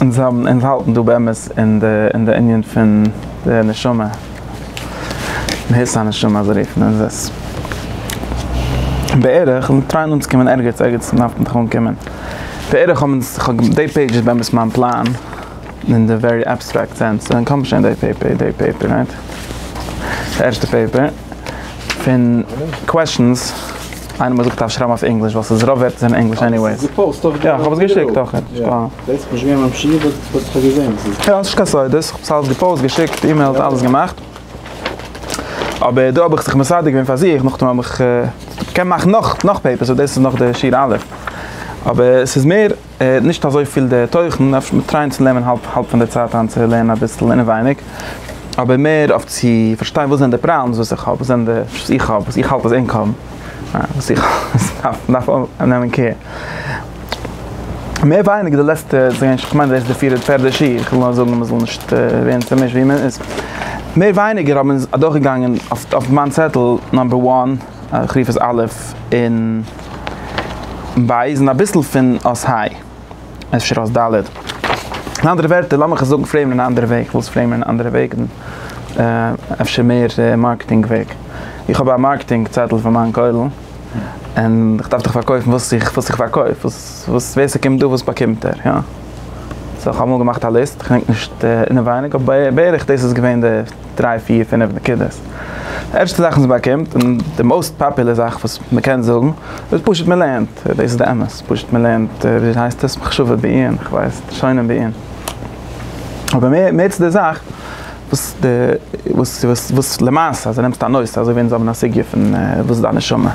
און זיי האבן אונז האלטן דא באמת אין די אין די ענין פון די נשמה, מהות הנשמה אזוי רופן אונז עס בערך, און טרייען אנצוקומען ערגעץ, ערגעץ דארף מען דאך אנקומען, בערך האבן אונז, כ'האב געמ, דעי פעידזש איז באמת מיין פלאן, אין די ווערי עבסטרעקט סענס, און כ'האב שוין דעי פעיפער, דעי פעיפער רייט, די ערשטע פעיפער, פון קוועשאנס. איינער מוז זיך אויפשרייבן אויף ענגליש ווייל ס'איז רוב ווערטער זענען ענגליש עניוועיס. יא כ'האב עס געשיקט אויך. יא נישט קיין סודות, איך האב עס אלעס געפאוסט, געשיקט, אימעילט, אלעס געמאכט. אבער דא האב איך זיך מסדר געווען פאר זיך, נאכדעם האב איך, כ'קען מאכן נאך פעיפערס אבער דאס איז נאך די שיעור א'. אבער ס'איז מער. נישט אזוי פיל די תוכן, אפשר מיר טרייען צו נעמען האלב האלב פון די צייט איין צו לערנען אביסל אינעווייניג, אבער מער אויף צו פארשטיין וואס זענען די פראבלעמס וואס איך האב, וואס זענען די וואס איך האב, וואס איך האלט אז ענק האבן, וואס איך דארף דארף נעמען קעיר. מער ווייניגער די לעצטע ס'גייען כ'מיין דאס איז די פירע פערדע שיעור, איך וויל נאר זאגן מען זאל נישט ווערן צומישט ווי מען איז, מער ווייניגער האבן מיר אדורכגעגאנגען אויף אויף מיין צעטל נאמבער וואן, איך רוף עס א' און ב' און אביסל פון אות ה', אפשר אות ד'. אין אנדערע ווערטער, לאמיך עס זאגן פרעימען אין א אנדערע וועג, כ'וועל עס פרעימען אין א אנדערע וועג, אפשר מער מארקעטינג וועג. איך האב א מארקעטינג צעטל פאר מיין כולל, און איך דארף דאך פארקויפן וואס איך וואס איך פארקויף, וואס ווער ס'קומט דא וואס באקומט ער, יא? סאו איך האב אמאל געמאכט א ליסט, כ'דענק נישט אינעווייניג, אבער בערך דאס איז געווען די. דריי פיר פינעף נקודות, די ערשטע זאך וואס מ'באקומט און די מאוסט פאפולער זאך וואס מ'קען זאגן איז פשוט מ'לערנט, דאס איז די אמת, פשוט מ'לערנט ווי הייסט עס מחשבה בעיון, איך ווייס, שונאים בעיון, אבער מער מער צו די זאך, וואס די וואס וואס וואס למעשה אז נעמסט א נושא אזוי ווי אונז האבן א סוגיא פון וואס איז דיין נשמה,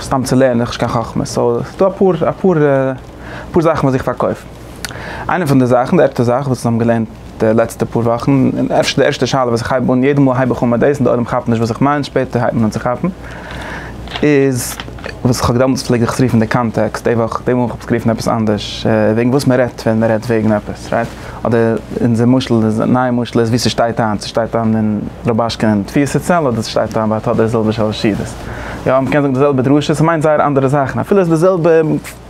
סתם צו לערנען, נישט קיין חכמה, סאו ס'דא אפאר אפאר אפאר זאכן וואס זיך פארקויפן. איינע פון די זאכן, די ערשטע זאך וואס מיר האבן געלערנט די לעצטע פאר וואכן, און אפשר די ערשטע שאלה וואס איך הייב אן, יעדע מאל הייב איך אן מיט דאס און די עולם כאפט נישט וואס איך מיין, שפעטער הייבט מען אן צו כאפן, איז וואס איך האב דעמאלטס פלעג איך עס רופן די קאנטעקסט, די וואך, די מאל האב איך עס גערופן עפעס אנדערש, וועגן וואס מען רעדט ווען מען רעדט וועגן עפעס, רייט? אדער אונזער משל איז, נייע משל איז ווי ס'שטייט היינט, ס'שטייט היינט אין רובאשקין אין תפיסה צעל אדער ס'שטייט היינט ביי טאדער זילבער שלש שידות. יא, מ'קען זאגן די זעלבע דרשה, ס'מיינט זייער אנדערע זאכן, אפילו איז די זעלבע.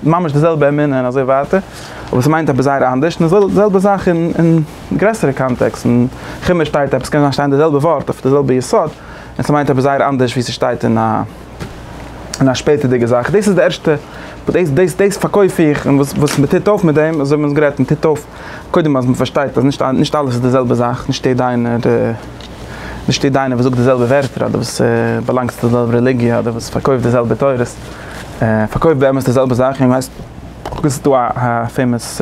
ממש די זעלבע אמונה און אזוי ווייטער, אבער ס'מיינט עפעס זייער אנדערש, און די זעלבע זאך אין גרעסערע קאנטעקסט, אין חומש שטייט עפעס, קען זיין שטיין די זעלבע ווארט אויף די זעלבע יסוד, און ס'מיינט עפעס זייער אנדערש ווי ס'שטייט אין א אין א שפעטערדיגע זאך, דאס איז די ערשטע, דאס דאס דאס פארקויף איך, און וואס וואס מ'טוט אויף מיט דעם, אזוי האבן אונז גערעדט, מ'טוט אויף קודם אז מ'פארשטייט אז נישט נישט אלעס איז די זעלבע זאך, נישט יעדע איינער. נישט דער דיינער וואס זאגט די זעלבע ווערטער אדער וואס באלאנגט צו די זעלבע רעליגיע אדער וואס פארקויפט די זעלבע תורות פארקויפט באמת די זעלבע זאך און ווייסט דאס איז דא א פעימאס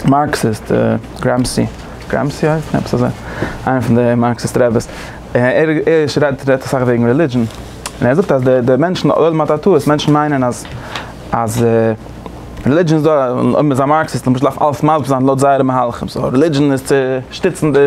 מארקסיסט גרעמסי גרעמסי אויב איך זעה איינער פון די מארקסיסט רעבעס ער רעדט אסאך וועגן רעלידזשען און ער זאגט אז די מענטשן אויב מ'האט א טעות מענטשן מיינען אז אז רעלידזשען איז דא אויב מ'איז א מארקסיסט למשל דארף אלעס מסביר זיין לויט זייערע מהלכים סאו רעלידזשען איז צו שטיצן די.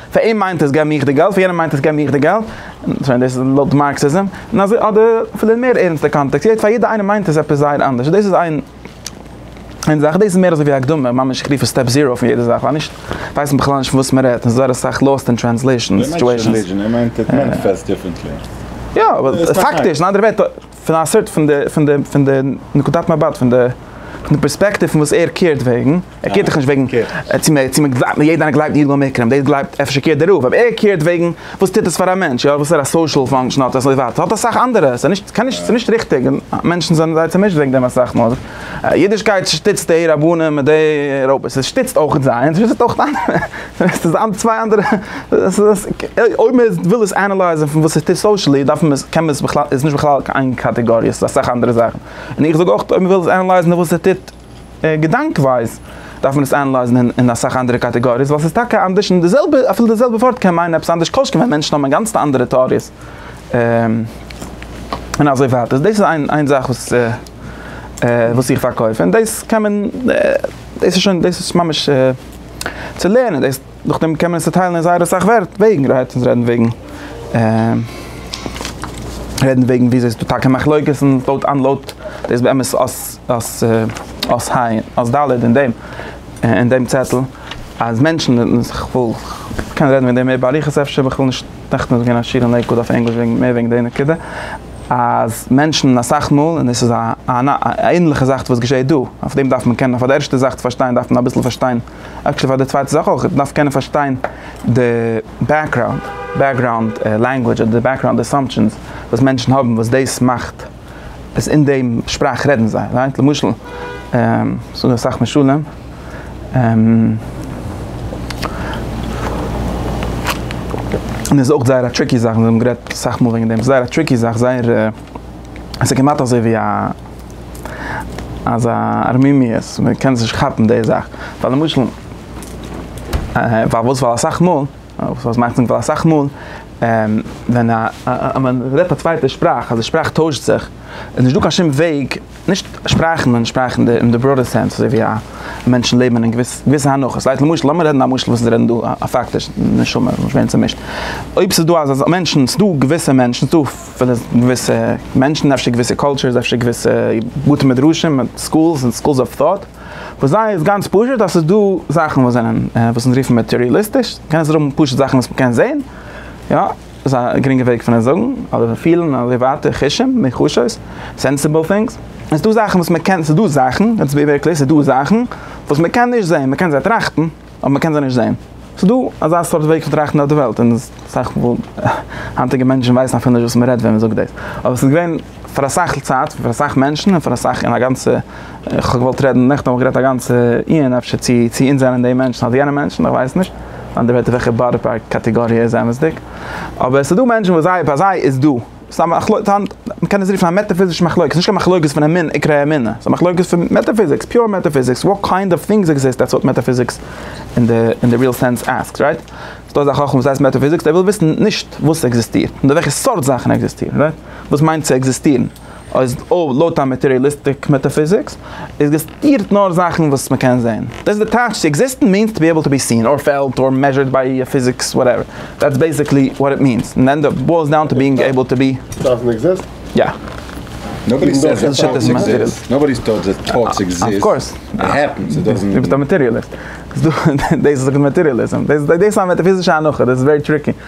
פאר אים מיינט עס גיי מיך די געלט, פאר יענעם מיינט עס גיי מיך די געלט, כ'מיין דאס איז לויט מארקסיזם, און אזוי אדער אפילו אין מער ערנסטע קאנטעקסט, יעדע פאר יעדע איינעם מיינט עס עפעס זייער אנדערש, און דאס איז איין איין זאך, דאס איז מער אזוי ווי א הקדמה, ממש איך רוף עס סטעפ זיראו פון יעדע זאך, ווייל נישט ווייסן בכלל נישט פון וואס מען רעדט, און זייער אסאך לאוסט אין טרענסלעישאן סיטואשענס. יא אבער פאקטיש אין אנדערע ווערטער. פון א סארט פון די פון די פון די נקודת מבט פון די פון די פערספעקטיוו פון וואס ער קערט וועגן, ער קערט דאך נישט וועגן צו מען צו מען גלייבט מען יעדער איינער גלייבט ירדו המקרים דאס גלייבט אפשר קערט דער רוב אבער ער קערט וועגן וואס טוט עס פאר א מענטש יא וואס פאר א סאושעל פאנקשען האט עס און אזוי ווייטער האט אסאך אנדערע ס'איז נישט ס'איז נישט ריכטיג און מענטשן זענען זייער צומישט וועגן דעם אסאך מאל. אידישקייט שטיצט די רבנים מיט די רביס, עס שטיצט אויך זיינס, שטיצט אויך אנדערע, עס איז צוויי אנדערע, אויב מען וויל עס ענעלייזען פון וואס עס טוט סאושעלי דארף מען עס, קען מען עס בכלל, איז נישט בכלל קיין איין קאטעגאריע, עס איז אסאך אנדערע זאכן, און איך זאג אויך אויב מען וויל עס ענעלייזען און וואס עס טוט געדאנק ווייז דארף מען עס ענעלייזען אין אסאך אנדערע קאטעגאריעס ווייל עס איז טאקע אנדערש און די זעלבע, אפילו די זעלבע ווארט קען מיינען עפעס אנדערש כל שכן ווען מענטשן האבן אינגאנצן אנדערע טעאריעס און אזוי ווייטער, דאס איז איין זאך וואס. וואס איך פארקויף, און דאס קען מען, דאס איז שוין, דאס איז ממש צו לערנען דאס, נאכדעם קען מען עס צוטיילן אין זייער אסאך וועגן, רעדט אונז רעדן וועגן, רעדן וועגן וויאזוי ס'איז דא טאקע מחלוקת און לויט אן לויט דאס באמת אויס אויס אויס היי אויס ד' אין דעם אין דעם צעטל אז מענטשן און כ'וואל כ'קען רעדן וועגן דעם מער באריכות אפשר, ווייל כ'וויל נישט נעכטן איז געווען א שיעור אין לעיקוואד אויף ענגליש וועגן מער וועגן די נקודה. אז מענטשן אסאך מאל, און עס איז א ענליכע זאך וואס געשעהט דא, אויף דעם דארף מען קענען, פאר די ערשטע זאך צו פארשטיין דארף מען אביסל פארשטיין, עקשעלי פאר די צווייטע זאך אויך, מען דארף קענען פארשטיין די בעקראונד, בעקגראונד לענגווידזש אדער די בעקגראונד אסאמפשענס וואס מענטשן האבן וואס דאס מאכט אז אין דעם שפראך רעדן זיי, למשל, ס'דא אסאך משלים. און איז אויך זייער א טריקי זאך, מיר האבן גערעדט אסאך מאל וועגן דעם, ס'איז זייער א טריקי זאך, זייער עס איז כמעט אזוי ווי א אזא ארמימיות, מען קען עס נישט כאפן די זאך, ווייל למשל פארוואס ווייל אסאך מאל, וואס מיינט ווייל אסאך מאל, ווען א מען רעדט א צווייטע שפראך, אז די שפראך טוישט זיך, איז נישטא קיין שום וועג. נישט שפראכן און שפראכן די אין די בראדער סענס אזוי ווי א מענטשן לעבן אין געוויס געוויסע הנחות לייט למשל לאמיר רעדן א משל וואס איז רעדן דא א פאקטיש נשמה איז נישט ווערן צומישט אויב ס'איז דא אזא מענטשן ס'דא געוויסע מענטשן ס'דא פילע געוויסע מענטשן אפשר געוויסע קולטשערס אפשר געוויסע בתי מדרשים און סקולס און סקולס אוו טאט וואס זיי איז גאנץ פשוט אז ס'איז דא זאכן וואס זענען וואס אונז רופן מעטעריאליסטיש קען עס זיך האבן פשוט זאכן וואס מ'קען זעהן יא. איז א גרינגע וועג פון עס זאגן, אדער פון פילן אין עליוואטער, חושים, מיחושות, סענסעבל טינגס. עס איז דא זאכן וואס מען קען, עס איז דא זאכן, לעטס בי ווערי קלער, עס איז דא זאכן וואס מען קען נישט זען, מען קען זיי טראכטן, אבער מען קען זיי נישט זען. עס איז דא אזא סארט וועג פון טראכטן אויף די וועלט, און אסאך היינטיגע מענטשן ווייסן אפילו נישט וואס מען רעדט ווען מען זאגט דאס, אבער עס איז געווען. פאר אסאך צייט, פאר אסאך מענטשן, און פאר אסאך אין א גאנצע, איך האב געוואלט רעדן, נעכטן האב איך גערעדט א גאנצע עיון אפשר צו צו אונז זענען די מענטשן אדער יענע מענטשן, איך ווייס נישט, אנדערהויט אויף וועלכע באדי פארט קאטעגאריע איז אמת'דיג, אבער עס איז דא מענטשן וואס זיי ביי זיי איז דא, ס'איז א מחלוקת, מ'קען עס רופן א מעטאפיזישע מחלוקת, נישט קיין מחלוקת פון אמונה, עיקרי אמונה, ס'איז א מחלוקת פון מעטאפיזיקס, פיור מעטאפיזיקס, וואט קיינד אוו טינגס עקזיסט, דעטס וואט מעטאפיזיקס אין די אין די ריעל סענס עסקס, רייט? ס'דא אזא חכם וואס הייסט מעטאפיזיקס, דער וויל וויסן נישט וואס עקזיסטירט, נאר וועלכע סארט זאכן עקזיסטירן, רייט? וואס מיינט צו עקזיסטירן? אויס אויב לויט א מאטעריאליסטיק מעטאפיזיקס עקזיסטירט נאר זאכן וואס מ'קען זעהן. דאס איז די טייטש צו עקזיסטן מיענס טו בי עיבל טו בי סין אר פעלט אר מעזשערד ביי א פיזיקס וואטעווער דעטס בעסיקלי וואט איט מיענס און ענד אפ בוילס דאון טו ביענג עיבל טו בי. דאזענט עקזיסט? יא. נאבאדי סעיס דעט טאטס עקזיסט. נאבאדי טאלד דעט טאטס עקזיסט. אף קאורס. איט העפענס. איט דאזענט. דו ביסט א מאטעריאליסט. דאס איז מאטעריאליזם. דאס איז א מעטאפיזישע הנחה. דאס איז ווערי טריקי.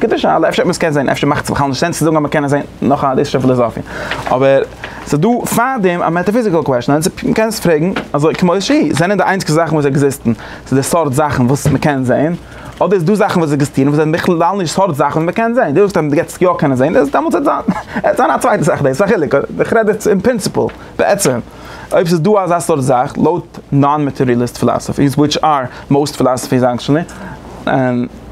גוטע שאלה, אפשר האט מען עס געזעהן, אפשר מאכט עס בכלל נישט סענס צו זאגן אז מען קען עס זעהן, נאך א ליסט פון פילאזאפיע, אבער ס'איז דא פאר דעם א מעטאפיזיקעל קוועשאן, און מען קען עס פרעגן אזוי כמו שהיא, זענען די איינציגסטע זאכן וואס עקזיסטן ס'איז די סארט זאכן וואס מען קען זעהן, אדער איז דא זאכן וואס עקזיסטירן וואס זענען בכלל נישט סארט זאכן וואס מען קען זעהן? דו זאגסט אז מען גייט עס יא קענען זעהן, איז דעמאלטס וועט זיין וועט זיין א צווייטע זאך, דאס איז א חילוק, איך רעד יעצט אין פרינציפעל, בעצם, אויב ס'איז דא אזא סארט זאך, לויט נאן מעטעריעליסט פילאזאפיס, וויטש אר מאוסט פילאזאפיס עקטשעלי, און.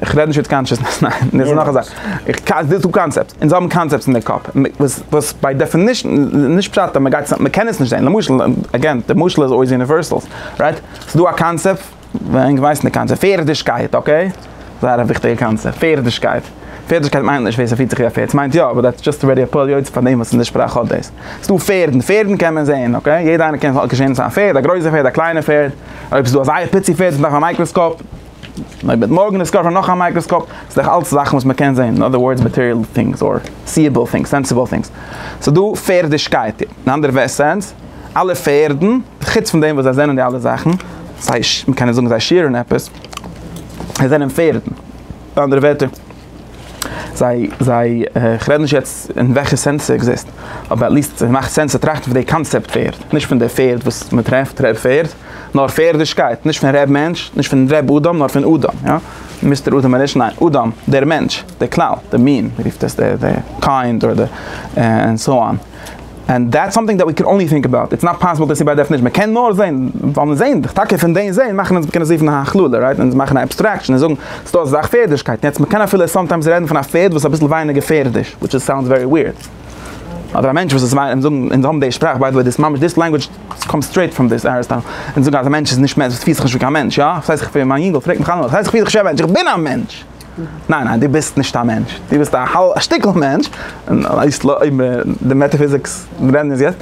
איך רעד נישט וויט קאנשעסנעס, ניין, דאס איז נאך א זאך. איך קא, די טו קאנצעפטס, אונז האבן קאנצעפטס אין די קאפ, וואס וואס ביי דעפינישן איז נישט פשט אז מ'גייט צו, מ'קען עס נישט זען, למשל, אגעין, די משל איז אויס יוניווערסעל, רייט? ס'איז דא א קאנצעפט, ווער ענק ווייסן די קאנצעפט, פערדישקייט, אקעי? זייער א וויכטיגע קאנצעפט, פערדישקייט. פערדישקייט מיינט נישט ווער ס'פירט זיך ווי א פערד, ס'מיינט יא, אבער דעטס דזשאסט ארעדי א פועל יוצא פאר דעם וואס אין די שפראך האט דאס. ס'דא פערדן, פערדן קען מען זען, אקעי? יעדע איינער קען געשענען צו א פערד, א גרויסע פערד, א קליינע פערד, אויב ס'איז דא א זייער פיצי פערד וואס דארף א מייקראסקאופ, מען וועט מארגן דיסקאווערן נאך א מייקראסקאפ, ס'איז דאך אלץ זאכן וואס מען קען זען, אין אדער ווארדס מאטעריעל טינגס, אדער סיעבעל טינגס, סענסעבעל טינגס. ס'איז דא פערדישקייט, אין אנדערע סענס, אלע פערדן, חוץ פון דעם וואס זיי זענען די אלע זאכן, סיי מען קען נישט זאגן זיי שעירן עפעס, זיי זענען פערדן, אנדערע ווערטער, זיי זיי איך רעד נישט יעצט אין וועלכע סענס ס'עקזיסט אבער עטליסט ס'מאכט סענס צו טראכטן פון די קאנצעפט פערד נישט פון די פערד וואס מ'טרעפט ר' פערד נאר פערדישקייט נישט פון ר' מענטש נישט פון ר' אדם נאר פון אדם יא מיסטער אדם אריש ניין אדם דער מענטש דער כלל דער מין מ'רופט עס דער קיינד אדער ענד סאו אן. ענד דעטס סאמטינג דעט ווי קען אנלי טינק אבאוט, איטס נאט פאסיבל טו סי ביי דעפענישן, מען קען נאר זען, ווייל מען זעהן דאך, טאקע פון דעם זעהן מאכן אונז קענען זיפן א הכללה, רייט, אונז מאכן א עבסטרעקשן און זאגן ס'איז דא אזא זאך פערדישקייט, יעצט מען קען אפילו סאמטיימס רעדן פון א פערד וואס איז אביסל ווייניגער פערדיש, וויטש איז סאונדס ווערי וויערד, אדער א מענטש וואס איז וויי, אונז זאגן, אונז האבן די שפראך, ביי די וועי דיס מאמענט דיס לענגוויטש קאמס סטרעיט פראם דיס אריסטאטעל, אונז זאגן אז א מענטש איז נישט מענטש, פירט זיך נישט ווי קיין מענטש, יא? ס'הייסט איך בין, מיין יונגעל פרעגט מיך אלעמאל, ס'הייסט איך פיר זיך נישט ווי א מענטש, איך בין א מענטש! ניין ניין דו ביסט נישט א מענטש, דו ביסט א האלב א שטיקל מענטש, די מעטאפיזיקס רעדן איז יעצט,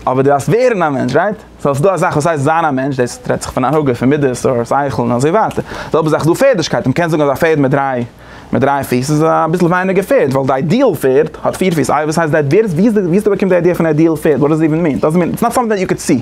אבער דו דארפסט ווערן א מענטש רייט? סאו ס'איז דא אזאך וואס הייסט זיין א מענטש, דאס רעדט זיך פון א הנהגה פון מידות אור שכל און אזוי ווייטער, די זעלבע זאך דא פערדישקייט, מ'קען זאגן אז א פערד מיט דריי מיט דריי פיס איז אביסל ווייניגער פערד ווייל די איידיעל פערד האט פיר פיס, איי וואס הייסט די, ווי האסטו באקומען די איידיע פון איידיעל פערד, וואט דאס איווען מין, דאזענט מין, איטס נאט סאמטינג דעט יו קען סי.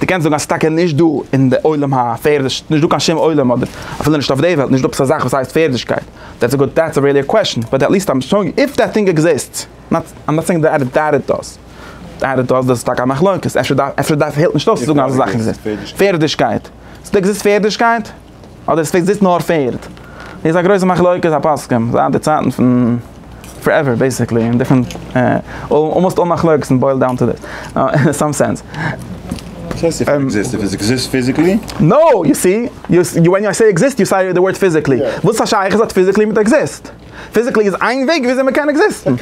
דו קענסט זאגן אז ס'איז טאקע נישט דא אין די עולם הפערדיש, נישט דא קיין שום עולם אדער אפילו נישט אויף די וועלט, נישט דא עפעס א זאך וואס הייסט פערדישקייט, דעטס א גוד, דעטס א רעלי קוועשאן, באט עטליסט איים שוינג איף דעט טינג עקזיסטס, נאט, איים נאט סעינג דעט דעט איט דאז, דעט איט דאז, דאס איז טאקע א מחלוקת, אפשר דארף, אפשר דארף, העלפט נישט אויס צו זאגן אז א זאך עקזיסט, פערדישקייט, ס'דא עקזיסט פערדישקייט? אדער עס פלעגט זיצן נאר פערד. דאס איז א גרויסע מחלוקת הפוסקים זייט די צייטן פון פארעווער בעיסיקלי אין דיפרענט אלמאסט אל מחלוקת און בוילד דאון טו דעס אין סאם סענס. וואס הייסט איף עקזיסט? איף עס עקזיסט פיזיקלי? נאו! יו סי? ווען איי סעי עקזיסט יו סעי די ווארד פיזיקלי. וואס א שייכות האט פיזיקלי מיט עקזיסט? פיזיקלי איז איין וועג וויאזוי מען קען עקזיסטן.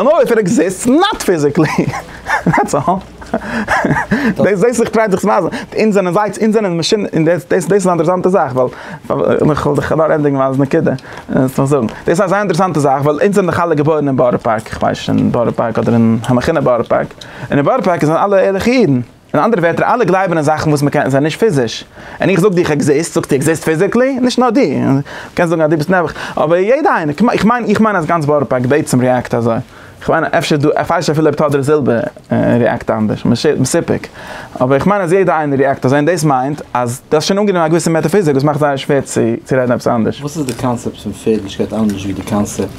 נאר איף איט עקזיסטס נאט פיזיקלי. דעטס אלל. דאס זעהסט איך טריי דיך צו ווייזן. אונז זענען זייטס אונז זענען מאשינען און דאס דאס איז א אינטערעסאנטע זאך ווייל איך וועל דיך נאר ענדיגן מיין נקודה. דאס איז א זייער אינטערעסאנטע זאך ווייל אונז זענען דאך אלע געבוירן אין בארא פארק, איך ווייס נישט אין בארא פארק אדער אין המכונה בארא פארק. און אין בארא פארק זענען אלע ערליכע אידן. אין אנדערע ווערטער אלע גלייבן אין זאכן וואס מ'קען זיי נישט פיזיש, און איך זאג דיר איך עקזיסט זאגסטו עקזיסט פיזיקלי? נישט נאר דו, קענסט זאגן אז דו ביסט נעבעך, אבער יעדע איינער, איך מיין איך מיין אז גאנץ בארא פארק בעצם ריעקט אזוי, איך מיין אפשר דו ערפארשט אפילו אויב טאדער זילבער ריעקט אנדערש, מסופק, אבער איך מיין אז יעדע איינער ריעקט אזוי און דאס מיינט אז דו האסט שוין אנגענומען א געוויסע מעטאפיזיק וואס מאכט זייער שווער צו רעדן עפעס אנדערש. וואס איז די קאנצעפט פון פערדליכקייט אנדערש ווי די קאנצעפט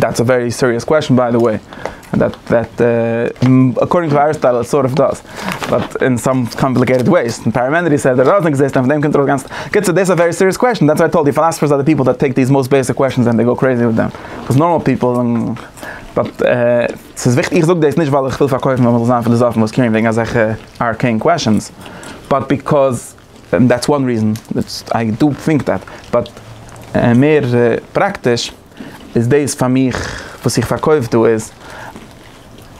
דעטס א ווערי סיריעס קוועשן ביי די וועי, דעט דעט אקארדינג טו אריסטאטעל איט סארט אוו דאס, באט אין סאם קאמפליקעיטעד וועיס, און פארמענידעס סעד איט דאזענט עקזיסט, און פון דעם קומט ארויס גאנץ, קיצור דאס איז א ווערי סיריעס קוועשן, דעטס וואי איי טאלד יו פילאסעפערס אר די פיפל דעט טעיק דיס מאסט בעיסיק קוועשנס ענד דעי גאו קרעיזי וויט דעם, וואס נארמאל פיפל, באט ס'איז וויכטיג, איך זאג דאס נישט ווייל איך וויל פארקויפן אז מ'זאל זיין פיליזאפן וואס קעירן וועגן אזעלכע ארקעין קוועשנס, באט ביקאז דעטס וואן ריזען, איי דא טינק דעט, באט מער פראקטיש. איז דאס פאר מיך וואס איך פארקויף דא איז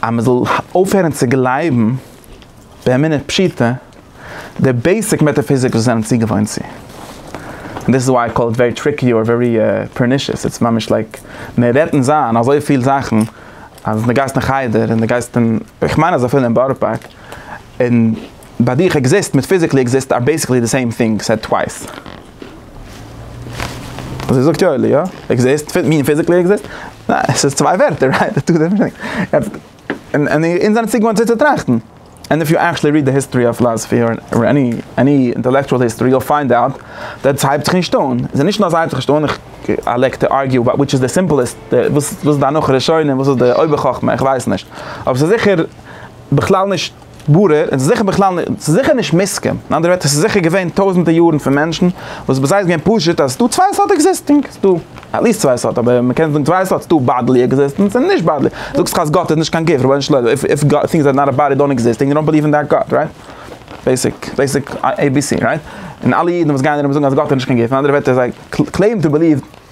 אז מען זאל אויפהערן צו גלייבן באמונה פשוטה די בעיסיק מעטאפיזיק וואס זענען צוגעוואוינט צו, און דאס איז וויי איי קאל איט ווערי טריקי אר ווערי פערנישעס, איטס ממש לייק מען רעדט און זיין אזויפיל זאכן אז די גייסט אין חדר און די גייסט אין, איך מיין אז אפילו אין בארא פארק און ביי דיך עקזיסט מיט פיזיקלי עקזיסט אר בעיסיקלי די סעים טינג סעד טווייס. זי זאגט יא יא עקזיסט מין פיזיקלי עקזיסט ניין עס איז צוויי ווערטער רייט די טו דיפרענט און און אונז זענען צוגעוואוינט אזוי צו טראכטן און איף יו עקטשעלי ריעד די היסטארי אוו פילאזעפי אר עני עני אינטעלעקטשועל היסטארי יו וויל פיינד אוט דעט עס הייבט זיך נישט אן עס איז נישט נאר אז עס הייבט זיך נישט אן איך לייק טו ארגיו אבאוט וויטש איז די סימפלעסט די וואס איז די הנחה ראשונה און וואס איז די אויבער חכמה איך ווייס נישט אבער עס איז זיכער בכלל נישט ברור, און ס'איז זיכער בכלל נישט, ס'איז זיכער נישט מוסכם, אין אנדערע ווערטער, ס'איז זיכער געווען טויזענטער יארן פון מענטשן, וואס ביי זיי איז געווען פשוט אז ס'דא צוויי סארט עקזיסטינג, ס'דא עטליסט צוויי סארט, אבער מ'קען זאגן צוויי סארט, ס'דא באדלי עקזיסטענס און נישט באדלי, זאגסט אז גאט איז נישט קיין גוף, רבונו של עולם, איף איף גאט, טינגס אר נאט א באדי דאן עקזיסטינג יו דאנט בעליוו אין דעט גאט, רייט? בעיסיק, בעיסיק עי בי סי, רייט? און אלע אידן וואס גייען ארום זאגן אז גאט איז נישט קיין גוף, אין אנדערע ווערטער זיי קלעימען טו בעליוו.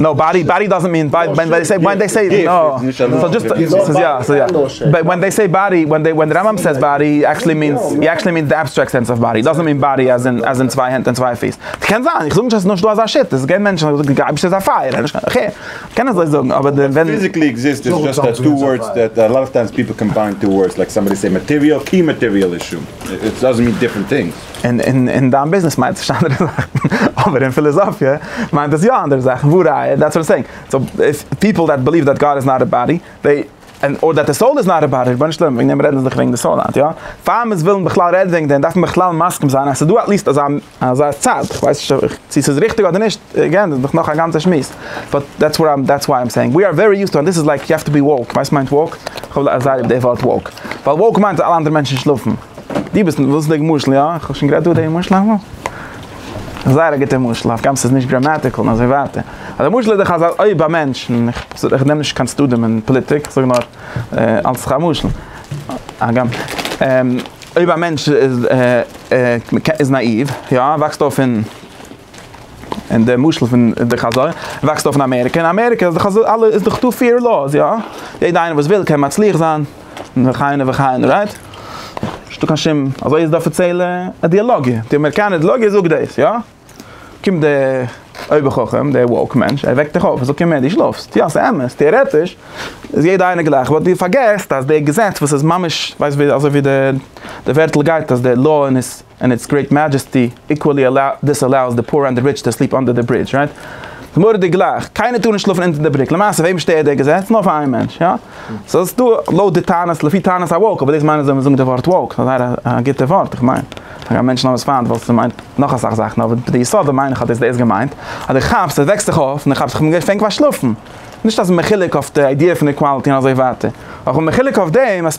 נאו באדי באדי דאזענט מין באדי ווען דעי סעי ווען דעי סעי סאו דזשאסט סאיז יא סאיז יא באט ווען דעי סעי באדי ווען דעי ווען די רמב ם סעיס באדי עקשעלי מינס עקשעלי מינס די עבסטרעקט סענס אוו באדי דאזענט מין באדי עז אין עז אין צוויי הענט און צוויי פיס קען זיין איך זאג נישט אז סאיז נישט דא אזא שיטה סגעווען מענטשן וואס זאגן גייבסט איז א פייער נישט קיין חו קען אזוי זאגן אבער די ווען פיזיקלי עקזיסט איז דזשאסט אז טו ווארדס דעט אלאטפטיימס פיפל קאמביין טו ווארדס לייק סאמבאדי סעי מאטעריאל קי מאטעריאל איז שום איטס דאזענט מין דיפרענט טינגס. אין אין אין דיין ביזנעס מיינט עס נישט אנדערע זאכן, אבער אין פיליזאפיע מיינט עס יא אנדערע זאכן, והא ראיה, דעטס וואט איים סעינג, סאו איף פיפל דעט ביליוו דעט גאד איז נאט א באדי, דעי, און אר דעט די סאול איז נאט א באדי, רבונו של עולם וועגן דעם רעדן זיך וועגן די סאול היינט, יא? פאר מיר ווילן בכלל רעדן וועגן דעם דארף מען בכלל מסכים זיין אז ס'איז דא עטליסט אזא אזא צד, כ'ווייס נישט אויב צו ס'איז ריכטיג אדער נישט, עגעין דאס איז דאך נאך א גאנצע שמועס, באט דעטס וואט איים דעטס וואט איים סעינג, ווי אר ווערי יוז טו אנד דיס איז לייק יו העוו טו בי וואוק, ווייסט מיינט וואוק? כ'האב ליב די ווארט וואוק, ווייל וואוק מיינט אז אלע אנדערע מענטשן שלאפן. דו ביסט, ווילסט די משל יא? איך האב שוין גערעדט דא די משל אמאל? זייער א גוטע משל, אויף גאמ ס'איז נישט גראמעטיקל און אזוי ווייטער. אבער די משל איז דאך אז אויב א מענטש, איך נעם נישט קיין צדדים אין פאליטיק, איך זאג נאר אלץ א משל, הגם, אויב א מענטש איז נאאיוו, יא, וואקסט אויף אין, אין די משל פון די חז ל, וואקסט אויף אין אמעריקע, אין אמעריקע איז דאך אזוי, אלע, איז דאך דא פעיר לאוס, יא? יעדע איינער וואס וויל קען מצליח זיין. וכהנה וכהנה, רייט? נישט דא קיין שום, אזוי איז די אפיציעלע אידילאגיע, די אמעריקאנע אידילאגיע זאגט דאס, יא? קומט די אויבער חכם, די וואוק מענטש, ער וועקט דיך אויף, ער זאגט אים, ער, דו שלאפסט, יא, ס'איז אמת, טעארעטיש איז יעדער איינער גלייך, באט דו פארגעסט אז די געזעץ וואס איז ממש, ווייסט ווי אזוי ווי די ווערטל גייט אז די לאו און עס. און איטס גרעיט מעדזשעסטי איקוועלי אלאוס דיסאלאוס די פאר אנד די ריטש טו סליעפ אנדער די ברידזש רייט? די מורה די גלייכט קיינער טאר נישט שלאפן אונטער די בריק למעשה וועם שטערט די געזעץ? נאר פאר איין מענטש יא? סאו ס'איז דא לויט די טענות לפי טענות א וואוק אבער דאס מיינט נישט זאל מען זאגן די ווארט וואוק ס'איז זייער א גוטע ווארט איך מיין פאר א מענטש נאמאנס פיינט ווייל ס'מיינט נאך אסאך זאכן אבער די יסוד מיין איך אז דאס איז געמיינט אז די כאפסט אז וועקסט זיך אויף און די כאפסט איך בין געווען פענק פארשלאפן נישט אז מ'חילוק אויף די איידיע פון איקוואלטי און אזוי ווייטער אויך מ'חילוק אויף דעם אז